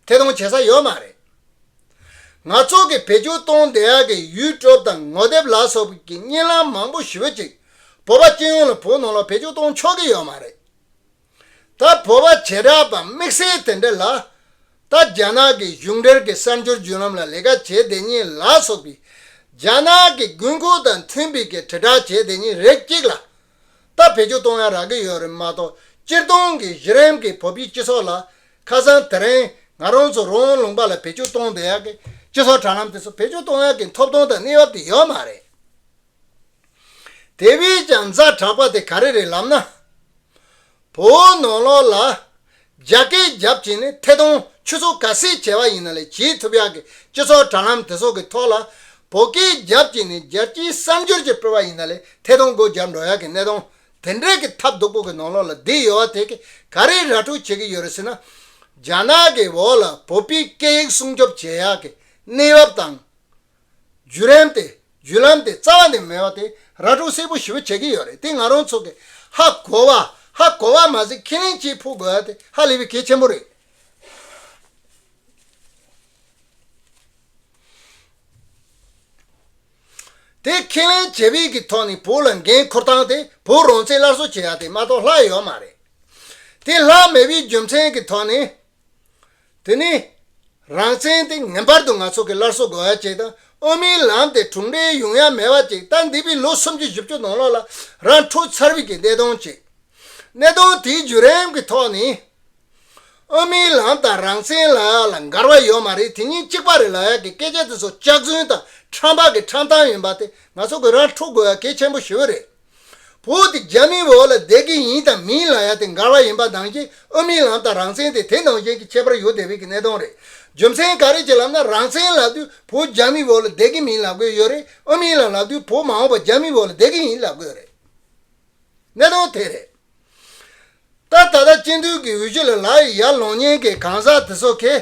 ཐད་གཏོང་བྱེད་ས་ཡོད་མ་རེད། ང་ཚོ་གི་བེད་སྤྱོད་གཏོང་བདེ་ཡག་གི་ཡུས་ཀྲོབ་དང་ངོ་དེབ་ལ་སོགས་ཀྱི་བརྙན་ལམ་མང་པོ་ཞུས་ཅིག་བོད་པ་སྤྱི་ཡོངས་ལ་བོད་ནང་ལོགས་བེད་སྤྱོད་གཏོང་ཆོག་གི་ཡོད་མ་རེད། ད་བོད་པ་བྱེ་བྲག་པ་དམིགས་བསལ་དེ་འདྲ་ལ། ད་རྒྱ་ནག་གི་གཞུང་འབྲེལ་གྱི་གསར་འབྱོར་བརྒྱུད་ལམ་ལ་ལས་ཀ་བྱེད་བདེ་གཉིས་ལ་སོགས་པའི་རྒྱ་ནག་གི་དགོས་མཁོ་དང་མཐུན་པའི་གི་དྲིལ་བསྒྲགས་བྱེད་བདེ་གཉིས་རེ་གཅིག་ལ། ད་བེད་སྤྱོད་གཏོང་ཡ་རག་གི་ཡོད་རེད་མ་གཏོགས་སྤྱིར་བཏང་གི་གཞི་རིམ་གྱི་བོད་པའི་སྤྱི་ཚོགས་ལ་ཁ་སང་དེ་རིང་ང་རང་ཚོ་རང་ལུང་པ་ལ་བེད་སྤྱོད་གཏོང་བདེ་ཡ་གི་སྤྱི་ཚོགས་དྲ་ལམ་དེ་ཚོ་བེད་སྤྱོད་གཏོང་ཡ་གི་འཐོབ་ཐོང་དང་གནས་བབ་དེ་ཡོད་མ་རེད། དེ་བས་ཀྱང་རྫ་དྲག་པ་དེ་ག་རེ་རེད་ལབ་ན། བོའུ་ནོར་ལོག་ལ་རྒྱ་སྐད་རྒྱབ་ཀྱིན་ནི་ཐད་གཏོང་ཆུ་ཚོགས་ག་སེ་བྱས་པ་ཡིན་ན་ལས་བྱེད་ཐུབ་ཡག་གི་སྤྱི་ཚོགས་དྲ་ལམ་དེ་ཚོགས་ཀྱི་ཐོག་ལ་བོད་སྐད་རྒྱབ་ཀྱིན་ནི་རྒྱལ་སྤྱིའི་གསར་འགྱུར་གྱི་སྤེལ་བ་ཡིན་ན་ལས་ཐད་གཏོང་སྒོ་རྒྱབ་འགྲོ་ཡག་གི་གནས་སྟོང་དེ་འདྲས་ཀྱི་ཐབས་སྡུག་པོ་གི་ནོར་ལོག་ལ་བསྡིགས་ཡོད་བ་དེ་གི་ག་རེ་ར་སྤྲོད་བྱེད་ཀྱི་ཡོད་རེད་ཟེར་ན། རྒྱ་ནག་གི་བོད་ལ་བོད་པའི་སྐད་ཡིག་སྲུང་སྐྱོབ་བྱེད་ཡག་གི་གནས་བབ་དང། བརྒྱུད་རིམ་དེ་བརྒྱུད་ལམ་དེ་རྩ་བ་ནས་མེད་པ་དེ་ར་གྲོགས་སེར་པོ་ཞི་བ་བྱེད་ཀྱི་ཡོད་རེད་དེ་ང་རང་ཚོ་གི་ཧ་གོ་བ་ཧ་གོ་བ་མ་ཟད་ཁས་ལེན་བྱེད་ཕོད་དགོས་པ་དེ་ཧ་ལས་པའི་གལ་ཆེན་པོ་རེད། དེ་ཁས་ལེན་བྱེད་ཕོད་ཀྱི་ཐོག་ནས་བོད་ལ་འགན་ཁུར་སྟངས་དེ་བོད་རང་བཙན་སླར་གསོ་བྱེད་ཡ་དེ་མ་གཏོགས་ལྷག་ཡོད་མ་རེད་དེ་ལྷག་མེད་པའི་རྒྱུ་མཚན་གྱི་ཐོག་ནས། དེ་ནི། རང་བཙན་དེ་ངེས་པར་དུ་ང་ཚོ་གི་སླར་གསོ་དགོས་བ་ཅིག་དང་དབུ་མའི་ལམ་དེ་གྲུང་འབྲས་ཡུང་ཡང་མེད་བ་ཅིག་ལྟར་འདས་པའི་ལོ་སུམ་ཅུ་བཞི་བཅུ་དང་ལོག་ལ་རང་འཁྲུག་ཚར་བའི་གི་གནད་དོན་ཅིག། གནད་དོན་དེའི་བརྒྱུད་རིམ་གི་ཐོག་ནས། དབུ་མའི་ལམ་དང་རང་བཙན་ལ་ཡག་ལ་འགར་བ་ཡོད་མ་རེད་དེ་གཉིས་གཅིག་པ་རེད་ལ་ཡག་གི་སྐད་ཆ་དེ་ཚོ་སྐྱག་རྫུན་དང་ཁྲམ་བག་གི་ཁྲམ་ཐང་ཡིན་པ་དེ་ང་ཚོ་གི་རང་འཁྲུག་དགོས་བ་གལ་ཆེན་པོ་ཞིག་རེད། བུ་དེ་རྒྱ་མིའི་འོག་ལ་བསྡད་ཀྱི་ཡིན་དང་མིན་ལ་ཡ་དེ་འགར་བ་ཡིན་པ་ནང་བཞིན་ཨོ་མིན་ལམ་དང་རང་བཙན་དེ་དེ་ནང་བཞིན་གྱི་ཁྱད་པར་ཡོད་དེ་བས་ཀྱི་གནད་དོན་རེད་རྒྱུ་མཚན་ག་རེ་བྱེད་ལབ་ན་རང་བཙན་ལབ་དུས་བུ་རྒྱ་མིའི་འོག་ལ་བསྡད་ཀྱི་མིན་ལབ་དགོས་ཡོད་རེད་ཨོ་མིན་ལམ་ལབ་དུས་བུ་མ་འོངས་པ་རྒྱ་མིའི་འོག་ལ་བསྡད་ཀྱི་ཡིན་ལབ་དགོས་རེད་གནད་དོན་དེ་རེད་ད། ད་ལྟ་སྤྱི་འཐུས་ཀྱི་འོས་གཞི་ལ་ལག་ཡི་ཡར་ལོངས་ཉེན་ཁའི་གང་ཟག་དེ་ཚོ་ཁེ།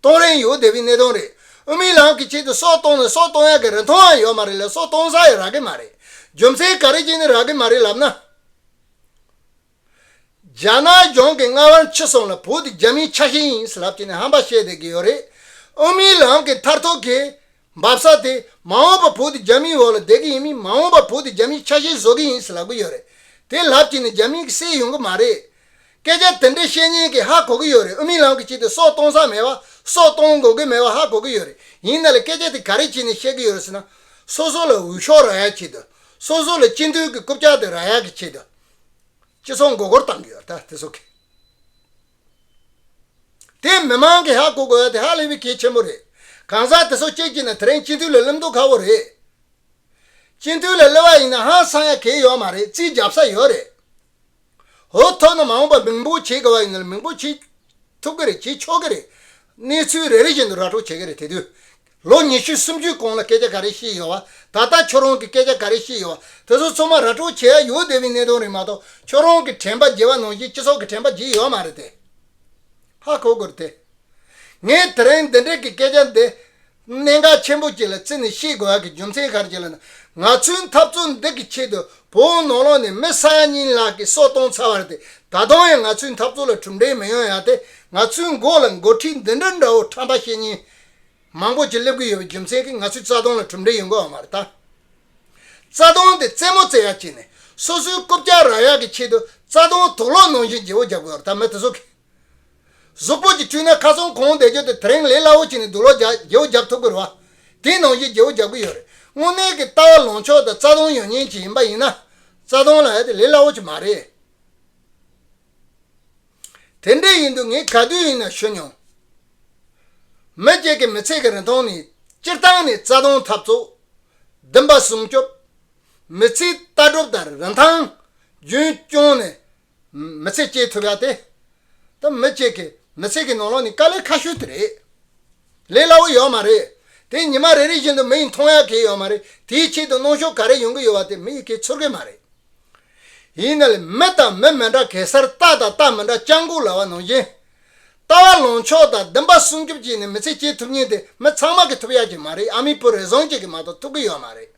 གཏོང་རན་ཡོད་དེ་བས་གནས་སྟངས་རེད། དབུ་མའི་ལམ་གྱི་ཆེད་དུ་སྲོག་གཏོང་ནས་སྲོག་གཏོང་ཡག་གི་རིན་ཐང་ཡང་ཡོད་མ་རེད་ལས་སྲོག་གཏོང་ས་ཡང་རག་གི་མ་རེད། རྒྱུ་མཚན་ག་རེ་གྱིས་ནི་རག་གི་མ་རེད་ལབ་ན། རྒྱ་ནག་གཞུང་གི་རྔ་བར་མཆི་སོང་ལ་བོད་དེ་རྒྱ་མིའི་ཆ་ཤས་ཡིན་ལབ་ཀྱིས་ནི་ཧམ་པ་བཤད་བསྡད་ཀྱི་ཡོད་རེད། དབུ་མའི་ལམ་གྱི་མཐར་ཐུག་གི། འབབ་ས་དེ་མ་འོངས་པ་བོད་དུ་རྒྱ་མིའི་འོག་ལ་བསྡད་གི་ཡིན་མིན་མ་འོངས་པ་བོད་དུ་རྒྱ་མིའི་ཆ་ཤས་བཟོ་གི་ཡིན་ཟེར་ལབ་གི་ཡོད་རེད་དེ་ལབ་ཀྱི་ནི་རྒྱ་མིའི་གི་སེལ་ཡོང་གི་མ་རེད་སྐད་ཆ་དེ་འདྲའི་བཤད་ཉན་གི་ཧ་གོ་གི་ཡོད་རེད་ཨུ་མི་ལམ་གི་བྱེད་དེ་སྲོག་གཏོང་ས་མེད་བ་སྲོག་གཏོང་དགོས་གི་མེད་བ་ཧ་གོ་གི་ཡོད་རེད་ཡིན་ན་ལ་སྐད་ཆ་དེ་ག་རེ་བྱེད་ནས་བཤད་གི་ཡོད་རེད་ཟེར་ན་སོ་སོ་ལ་འུད་ཤོག་ར་ཡག་བྱེད་དུ་སོ་སོ་ལ་སྤྱི་མཐུས་གི་རྐུབ་བཀྱག་དེ་ར་ཡག་གི་བྱེད་དུ་སྤྱི་ཚོགས་མགོ་སྐོར་བཏང་གི་ཡོད་རེད་ད་དེ་སོག་གི། དེ་མི་མང་གིས་ཧ་གོ་དགོས་པ་དེ་ཧ་ལས་པའི་གལ་ཆེན་པོ་རེད། གང་ཟག་དེ་ཚོ་སྤྱད་ཀྱི་ན་དེ་རིང་སྤྱི་འཐུས་ལ་གླེང་མདོག་ཁ་བོ་རེད། སྤྱི་འཐུས་ལ་གླེང་བ་ཡིན་ན་ཧང་སང་ཡ་གལ་ཡོད་མ་རེད་རྩིས་རྒྱབ་ས་ཡོད་རེད། འོ་ཐོག་ན་མ་འོངས་པ་མིང་པོ་བྱེད་དགོས་པ་ཡིན་ན་མིང་པོ་བྱེད་ཐུབ་ཀྱི་རེད་བྱེད་ཆོག་གི་རེད། གནས་ཚུལ་རེ་རེ་བཞིན་དུ་ར་སྤྲོད་བྱེད་ཀྱི་རེད་དེ་དུས་ལོ་ཉི་ཤུ་སུམ་ཅུའི་གོང་ལ་སྐད་ཆ་ག་རེ་ཤེས་ཡོད་བ། ད་ལྟ་ཁྱོད་རང་གིས་སྐད་ཆ་ག་རེ་ཤེས་ཡོད་བ། དེ་ཚོ་ཚོ་མ་ར་སྤྲོད་བྱེད་ཡ་ཡོད་སྡེ་བའི་གནད་དོན་རེད་མ་གཏོགས་ཁྱོད་རང་གི་དྲན་པ་བརྗེ་བ་ནང་བཞིན་སྤྱི་ཚོགས་ཀྱི་དྲན་པ་བརྗེ་ཡོད་མ་རེད་དེ། ཧ་གོ་དགོས་དེ། ངས་དེ་རིང་འདི་འདྲིག་གི་སྐད་ཆ་འདི། གནད་འགག་ཆེན་པོ་གཅིག་ལ་བརྩིས་ནས་བཤད་དགོས་ཡ་གི་རྒྱུ་མཚན་ག་རེ་བྱས་ལ་ན། ང་ཚོའི་འཐབ་རྩོད་འདི་གི་ཆེད་དུ་བོད་ནང་ལོགས་ནས་མི་ས་ཡ་གཉིས་ལག་གི་སྲོག་གཏོང་ཚར་བ་རེད་དེ། ད་དུང་ཡང་ང་ཚོའི་འཐབ་རྩོད་ལ་གྲུབ་འབྲས་མི་ཡོང་ཡ་དེ། ང་ཚོའི་མགོ་ལ་འགོ་ཁྲིད་འདི་འདྲ་འདྲ་བོ་ཁྲམ་པ་བཤེས་གཉེན། མང་པོ་ཅིག་སླེབས་ཀྱི་ཡོད་པའི་རྒྱུ་མཚན་གྱིས་ང་ཚོའི་རྩ་དོན་ལ་གྲུབ་འབྲས་ཡོང་གི་འོང་བར་ལྟ། རྩ་དོན་དེ་རྩེད་མོ་རྩེ་ཡག་བྱས་ནས་སོ་སོའི་རྐུབ་བཀྱག་ར་ཡག་གི་ཆེད་དུ་རྩ་དོན་དོགས་སློང་གནང་བཞིན་རྗེ་བོ་རྒྱབ་གོས་བར་ཐག་མེད་དུ་བཟོ་གི། གཟུགས་པོ་ཅིག་བཀྲུས་ན་ཁ་སང་གང་བསྡད་རྒྱུ་དེ་དེ་རིང་ལས་སླ་བོ་བྱས་ནས་འདུག་ལོ་རྒྱག་རྗེ་བོ་རྒྱབ་ཐུབ་ཀྱི་རེད་བ། དེ་གནང་བཞིན་རྗེ་བོ་རྒྱབ་ཀྱི་ཡོད་རེད་དངོས་གནས་ཀྱི་ལྟ་བ་ལངས་ཕྱོགས་དང་རྩ་དོན་ཡོད་ཉན་བྱེད་ཡིན་པ་ཡིན་ན། རྩ་དོན་ལ་ཡ་དེ་ལས་སླ་བོ་ཅིག་མ་རེད། དེ་འདྲ་ཡིན་དུས་ངས་ག་དུས་ཡིན་ན་ཤོད་མྱོང། མེས་རྒྱལ་གྱི་མི་ཚེ་གི་རིང་ཐུང་ནི་སྤྱིར་བཏང་ནས་རྩ་སྟོང་འཐབ་རྩོད། སྡིངས་པ་སྲུང་སྐྱོབ། མི་ཚེའི་ལྟ་གྲུབ་དང་རིན་ཐང། རྒྱུན་སྐྱོང་ནས་མི་ཚེ་སྐྱེལ་ཐུབ་ཡག་སྟེ། ད་མེས་རྒྱལ་གྱི་མི་ཚེ་གི་ནོར་ལོག་ནི་དཀའ་ལས་ཁ་ཤོས་དེ་རེད། ལས་སླ་བོ་ཡོད་མ་རེད། དེ་ཉི་མ་རེ་རེ་བཞིན་དུ་མི་ཡི་མཐོང་ཡག་གེ་ཡོད་མ་རེད་དེའི་ཆེད་དུ་གནོང་ཤོག་ག་རེ་ཡོང་གི་ཡོད་བ་དེ་མི་ཡི་གེ་ཚོར་གི་མ་རེད། ཡིན། ནལ་མི་དང་མི་མི་འདྲ་གེ་སར་རྟ་དང་རྟ་མི་འདྲ་སྤྱང་ལྐུག་ལ་བ་ནོར་སྦྱིན། ལྟ་བ་ལོངས་ཕྱོགས་དང་བདུན་པ་སྲུང་སྐྱོབ་ཀྱིས་ནི་མི་ཚེ་སྐྱེལ་ཐུབ་ཉེན་དེ་མི་ཚང་མ་གི་ཐུབ་ཡག་གི་མ་རེད་ཨ་མི་བུ་རེ་ཟུང་གཅིག་གི་མ་གཏོགས་ཐུབ་གི་ཡོད་མ་རེད།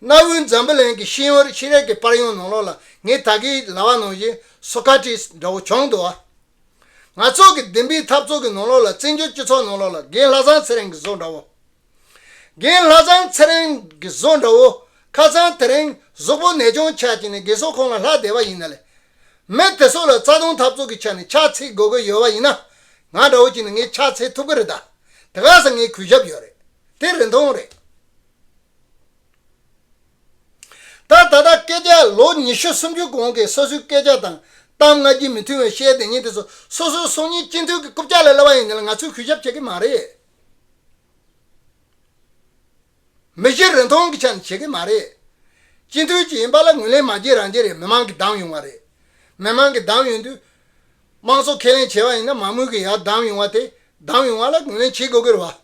གནའ་བོའི་འཛམ་བུ་གླིང་གི་ཤེས་ཡོན་རིག་ཤེས་རེག་གི་པར་ཡོང་ནང་ལོག་ལ་ངས་ད་གི་ལ་བ་ནོར་སྦྱིན Socrates འདྲ་བོ་བྱུང་འདུག་ཨ། ང་ཚོགས་གི་བདུན་པའི་འཐབ་ཚོགས་གི་ནང་ལོག་ལ་བཙན་བྱོལ་སྤྱི་ཚོགས་ནང་ལོག་ལ་རྒན་ལྷ་བཟང་ཚེ་རིང་གི་བཟོ་འདྲ་བོ། རྒན་ལྷ་ཚང་ཚེ་རིང་གི་བཟོ་འདྲ་བོ་ཁ་ཚང་དེ་རིང་གཟུགས་པོ་ནད་གཅོང་ཆགས་ཀྱི་ནས་དགེ་སོག་ཁོང་ལ་ལྷ་སྡེ་བ་ཡིན་ན་ལས། མི་དེ་སོག་ལ་རྩ་དུང་འཐབ་རྩོག་གི་ཆ་ནས་ཕྱག་འཚལ་དགོས་དགོས་ཡོད་བ་ཡིན་ན། ང་འདྲ་བོ་ཅིག་ནས་ངས་ཕྱག་འཚལ་ཐུབ་གི་རེད་ད། དེ་ག་ཟེ་ངས་གུས་ཞབས་ཡོད་རེད། དེ་རིན་ཐོང་རེད། ད་ད་ལྟ་སྐད་ཆ་ལོ་ཉི་ཤུ་སུམ་ཅུ་གོང་གི་སོ་སོའི་སྐད་ཆ་དང་གཏམ་ང་རྒྱུས་མི་མཐུན་བའི་བཤད་དེ་ཉིན་དེ་སོ་སོའི་སོ་གཉིས་སྤྱི་འཐུས་ཀྱི་རྐུབ་ལྕག་ལ་སླེབས་བ་ཡིན་ན་ལས་ང་ཚོས་གུས་ཞབས་བྱེད་གི་མ་རེད། མི་གཞི་རིན་ཐང་གི་ཆ་ནས་བྱེད་ཀྱི་མ་རེད། སྤྱི་འཐུས་གཅིག་ཡིན་པ་ལ་ངོས་ལེན་མ་བྱེད་རང་བྱེད་རེད་མི་མང་གིས་བདམས་ཡོང་བ་རེད། མི་མང་གིས་བདམས་ཡོང་དུས། དམངས་གཙོ་ཁས་ལེན་བྱས་པ་ཡིན་ན་མང་མོས་ཀྱིས་ཡར་བདམས་ཡོང་བ་དེ་བདམས་ཡོང་བ་ལ་ངོས་ལེན་བྱེད་དགོས་ཀྱི་རེད་བ།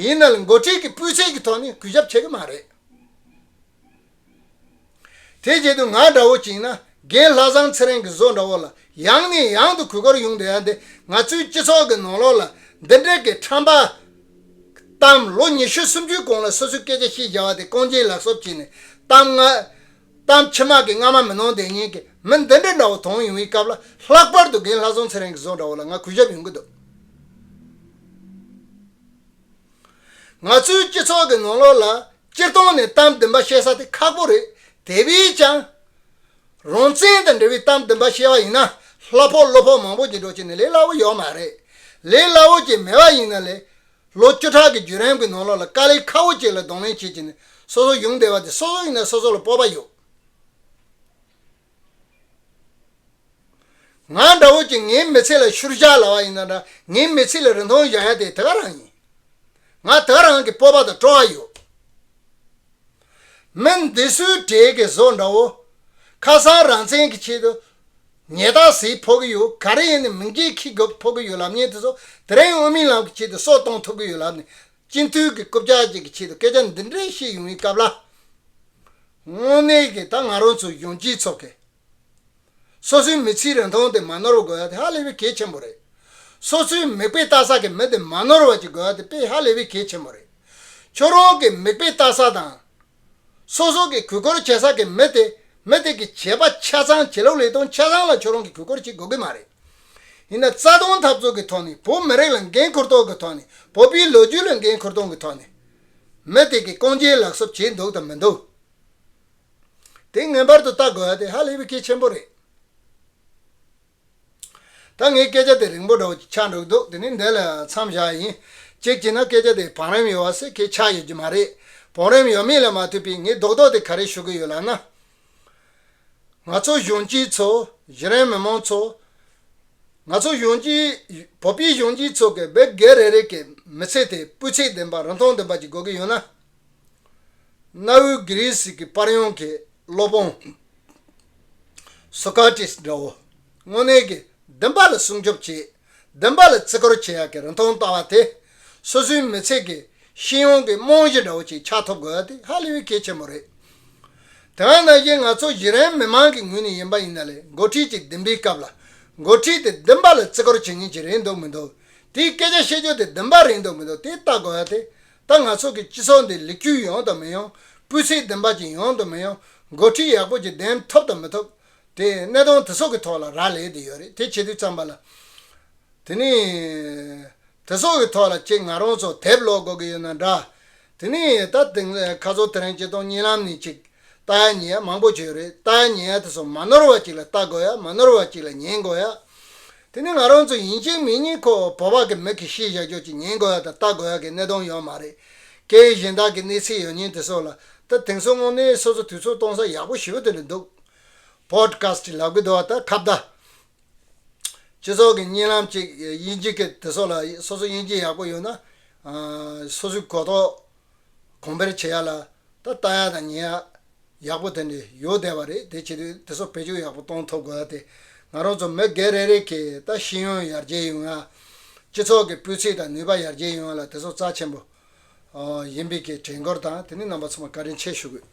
ཡིན་ནའང་འགོ་ཁྲིད་ཀྱི་སྤུས་ཚད་ཀྱི་ཐོག་ནས་གུས་ཞབས་བྱེད་ཀྱི་མ་རེད། དེའི་རྗེས་དུ་ང་འདྲ་བོ་བཅིངས་ན་རྒན་ལྷ་བཟང་ཚེ་རིང་གི་བཟོ་འདྲ་བོ་ལ་ཡང་ནས་ཡང་དུ་གུས་བཀུར་ཡོང་དུ་ཡང་དེ་ང་ཚོའི་སྤྱི་ཚོགས་ཀྱི་ནང་ལོགས་ལ་འདི་འདྲ་གི་ཁྲམ་པ་གཏམ་ལོ་ཉི་ཤུ་སུམ་ཅུའི་གོང་ལ་སོ་སོའི་སྐད་ཆ་ཤི་བཞག་བ་དེ་རྐང་རྗེས་ལག་སོབ་བྱས་ནས་གཏམ་ང་གཏམ་ཕྱི་མ་གི་རྔ་མ་མི་ནོར་འདེད་ཉན་གི་མི་འདི་འདྲ་འདྲ་བོ་དོང་ཡོང་བའི་སྐབས་ལ་ལྷག་པར་དུ་རྒན་ལྷ་བཟང་ཚེ་རིང་གི་བཟོ་འདྲ་བོ་ལ་ང་གུས་ཞབས་ཡོང་གི་འདུག། ང་ཚོའི་སྤྱི་ཚོགས་ཀྱི་ནང་ལོགས་ལ་སྤྱིར་བཏང་ནས་གཏམ་བདུན་པ་བཤད་ས་དེ་ཁག་པོ་རེད་དེ་བས་ཀྱང། རང་བཙན་དང་འབྲེལ་བའི་གཏམ་བདུན་པ་བཤད་བ་ཡིན་ན་ལྷ་ཕོག་བློ་ཕོག་མང་པོ་ཅིག་འགྲོ་ཆེད་ནས་ལས་སླ་བོ་ཡོད་མ་རེད། ལས་སླ་བོ་ཅིག་མེད་པ་ཡིན་ན་ལས། ལོ་བཅུ་ཕྲག་གི་བརྒྱུད་རིམ་གྱི་ནང་ལོགས་ལ་དཀའ་ལས་ཁག་པོ་ཅིག་ལ་གདོང་ལེན་བྱེད་ཀྱི་ནས་སོ་སོ་ཡོང་བསྡད་པ་དེ་སོ་སོ་ཡིན་ན་སོ་སོ་ལ་སྤོབས་པ་ཡོད། ང་འདྲ་བོ་ཅིག་ངའི་མི་ཚེ་ལ་ཤུར་བཞག་ལ་བ་ཡིན་ན་འདྲ་ངའི་མི་ཚེ་ལ་རིན་ཐང་བཞག་ཡ་དེ་དེ་ག་རང་ཡིན། ང་དེ་ག་རང་གི་སྤོབས་པ་དང་སྤྲོ་བ་ཡོད། མི་འདི་སུའི་གྲས་ཀྱི་བཟོ་འདྲ་བོ། ཁ་སང་རང་བཙན་གྱི་ཆེད་དུ། ཉལ་ཐག་ཟིག་ཕོག་གི་ཡོད་ག་རེ་ཡིན་ནི་མིང་རྒྱས་ཁྱི་རྒོད་ཕོག་གི་ཡོད་ལབ་ཉལ་དེ་ཚོ་དེ་རིང་དབུ་མའི་ལམ་གྱི་ཆེད་དུ་སྲོག་གཏོང་ཐུབ་ཀྱི་ཡོད་ལབ་ནི་སྤྱི་འཐུས་ཀྱི་རྐུབ་བཀྱག་ཅིག་གི་ཆེད་དུ་སྐད་ཆ་འདི་འདྲའི་བཤད་ཡོང་བའི་སྐབས་ལ། དངོས་གནས་ཀྱིས་ད་ང་རང་ཚོའི་གཞོན་སྐྱེས་ཚོ་གས། སོ་སོའི་མི་ཚེའི་རིང་ཐུང་དེ་མ་ནོར་བ་དགོས་ཡ་དེ་ཧ་ལས་པའི་གལ་ཆེན་པོ་རེད། སོ་སོའི་མིག་དཔེ་བལྟ་ས་གི་མི་དེ་མ་ནོར་བ་ཅིག་དགོས་ཡ་དེ་དཔེ་ཧ་ལས་པའི་གལ་ཆེན་པོ་རེད། ཁྱོད་རང་གི་མིག་དཔེ་བལྟ་ས་དང། སོ་སོ་གིས་གུས་བཀུར་བྱེད་ས་གི་མི་དེ་མི་དེ་གི་བྱེད་པ་ཆ་ཚང་བྱེད་ལུགས་ལེགས་གཏོང་ཆ་ཚང་ལ་ཁྱོད་རང་གི་གུས་བཀུར་བྱེད་དགོས་གི་མ་རེད། ཡིན་ན་རྩ་དོན་འཐབ་རྩོད་གི་ཐོག་ནས་བོད་མི་རིགས་ལ་འགན་ཁུར་གཏོང་གི་ཐོག་ནས་བོད་པའི་ལོ་རྒྱུས་ལ་འགན་ཁུར་གཏོང་གི་ཐོག་ནས་མི་དེ་གི་རྐང་རྗེས་ལག་གསོབ་བྱས་འདུག་དང་མི་འདུག་དེ་ངེས་པར་དུ་བལྟ་དགོས་པ་དེ་ཧ་ལས་པའི་གལ་ཆེན་པོ་རེད། ད་ངས་སྐད་ཆ་དེ་རིང་པོ་འདྲ་བོ་ཆགས་འགྲོ་གི་འདུག་དེ་ནི་འདི་ལ་མཚམས་བཞག་ཡིན། གཅིག་བྱས་ན་སྐད་ཆ་དེ་བང་རིམ་ཡོད་བ་སེ་གེ་ཆགས་ཡོད་ཀྱི་མ་རེད། བང་རིམ་ཡོད་མེད་ལ་མ་ལྟོས་པའི་ངས་རྡོག་རྡོག་དེ་ག་རེ་ཞུ་གི་ཡོད་ལབ་ན། ང་ཚོ་གཞོན་སྐྱེས་ཚོ། གཞི་རིམ་མི་མང་ཚོ། ང་ཚོ་གཞོན་སྐྱེས། བོད་པའི་གཞོན་སྐྱེས་ཚོ་གི་བེད་སྒེར་རེ་རེ་གི་མི་ཚེ་དེ་སྤུས་ཚད་ལྡན་པ་རིན་ཐང་ལྡན་པ་ཅིག་དགོས་ཀྱི་ཡོད་ན། གནའ་བོའི་གྷི་རི་སི་ཀི་པར་ཡོང་གི་སློབ་དཔོན། Socrates། འདྲ་བོ། དངོས་གནས་ཀྱི་བདེན་པ་ལ་སྲུང་སྐྱོབ་བྱེད། བདེན་པ་ལ་བརྩི་བཀུར་བྱེད་ཡག་གི་རིན་ཐང་ལྟ་བ་དེ། སོ་སོའི་མི་ཚེ་གི་ཤེས་ཡོན་གྱི་རྨང་གཞི་འདྲ་བོ་ཅིག་ཆགས་ཐུབ་དགོས་དེ་ཧ་ལས་པའི་གལ་ཆེན་པོ་རེད། དེ་འང་ན་གཞི་ང་ཚོ་གཞི་རིམ་མི་མང་གི་ངོས་ནས་ཡིན་པ་ཡིན་ན་ལས་འགོ་ཁྲིད་ཅིག་འདེམས་པའི་སྐབས་ལ། འགོ་ཁྲིད་དེ་བདེན་པ་ལ་བརྩི་བཀུར་བྱེད་མཁན་ཅིག་རེད་འདུག་མི་འདུག་དེའི་སྐད་ཆ་བཤད་རྒྱུ་དེ་བདེན་པ་རེད་འདུག་མི་འདུག་དེ་ལྟ་དགོས་ཏེ། ད་ང་ཚོ་གི་སྤྱི་ཚོགས་འདི་ལེགས་བཅོས་ཡོང་དང་མི་ཡོང། སྤུས་ཚད་བདེན་པ་ཅན་ཡོང་དང་མི་ཡོང། འགོ་ཁྲིད་ཡག་པོ་ཅིག་འདེམས་ཐོབ་དང་མི་ཐོབ། དེ་གནས་སྟངས་དེ་ཚོ་གི་ཐོག་ལ་རག་ལས་དེ་ཡོད་རེད་དེ་བྱེད་དུས་ཙམ་པ་ལ། དེ་ནི། དེ་ཚོ་གི་ཐོག་ལ་ཁྱེད་ང་རང་ཚོ་དེབ་ཀློག་དགོས་གི་ཡོད་ན་འདྲ། དེ་ནི་ད་དེང་ཁ་ཚོ་དེ་རིང་སྤྱི་སྟོང་གཉིས་ལམ་ནས་ཅིག་ལྟ་ཡ་ཉན་ཡ་མང་པོ་བྱོས་རེད་ལྟ་ཡ་ཉན་ཡ་དེ་ཚོ་མ་ནོར་བ་ཅིག་ལ་ལྟ་དགོས་ཡ་མ་ནོར་བ་ཅིག་ལ་ཉན་དགོས་ཡ། དེ་ནི་ང་རང་ཚོ་ཡིན་གཅིག་མིན་གཉིས་ཁོ་བོ་བག་གི་མིག་གིས་ཤེས་བཞག་ཅོག་ཅིག་ཉན་དགོས་ཡ་དང་ལྟ་དགོས་ཡ་གི་གནད་དོན་ཡོད་མ་རེད། སྐད་ཡིག་གཞན་དག་གི་གནས་ཚུལ་ཡོད་ཉེན་དེ་སོགས་ལ་ད་དེང་སང་དངོས་གནས་སོ་སོ་དུས་ཚོད་གཏོང་ས་ཡག་པོ་ཞིབ་ཏུ་རེད་འདུག Podcast ལབ་གི་འདུག་ཨ་ད་ཁ་བརྡ། སྤྱི་ཚོགས་ཀྱི་གཉིད་ལམ་ཅིག་དབྱིན་ཇི་གི་དེ་སོགས་ལ་སོ་སོ་དབྱིན་ཇི་ཡག་པོ་ཡོད་ན། སོ་སོའི་གོ་རྟོགས། གོང་འཕེལ་བྱེད་ཡག་ལ་ད་ལྟ་ཡག་དང་ཉེ་ཡག་ཡག་པོ་དེ་འདྲ་ཡོད་བསྡད་པ་རེད་དེ་བྱེད་དུས་དེ་ཚོ་བེད་སྤྱོད་ཡག་པོ་གཏོང་ཐུབ་དགོས་ཏེ་ང་རང་ཚོ་མི་སྒེར་རེ་རེ་གིས་ད་ཤེས་ཡོན་ཡར་རྒྱས་ཡོང་ཡ། སྤྱི་ཚོགས་ཀྱི་སྤུས་ཚིགས་དང་ནུས་པ་ཡར་རྒྱས་ཡོང་ཡ་ལ་དེ་ཚོ་རྩ་ཆེན་པོ་ཡིན་པའི་གི་དྲན་སྐུལ་དང་དེ་ནི་རྣམ་པ་ཚང་མར་བཀའ་དྲིན་ཆེ་ཞུ་དགོས།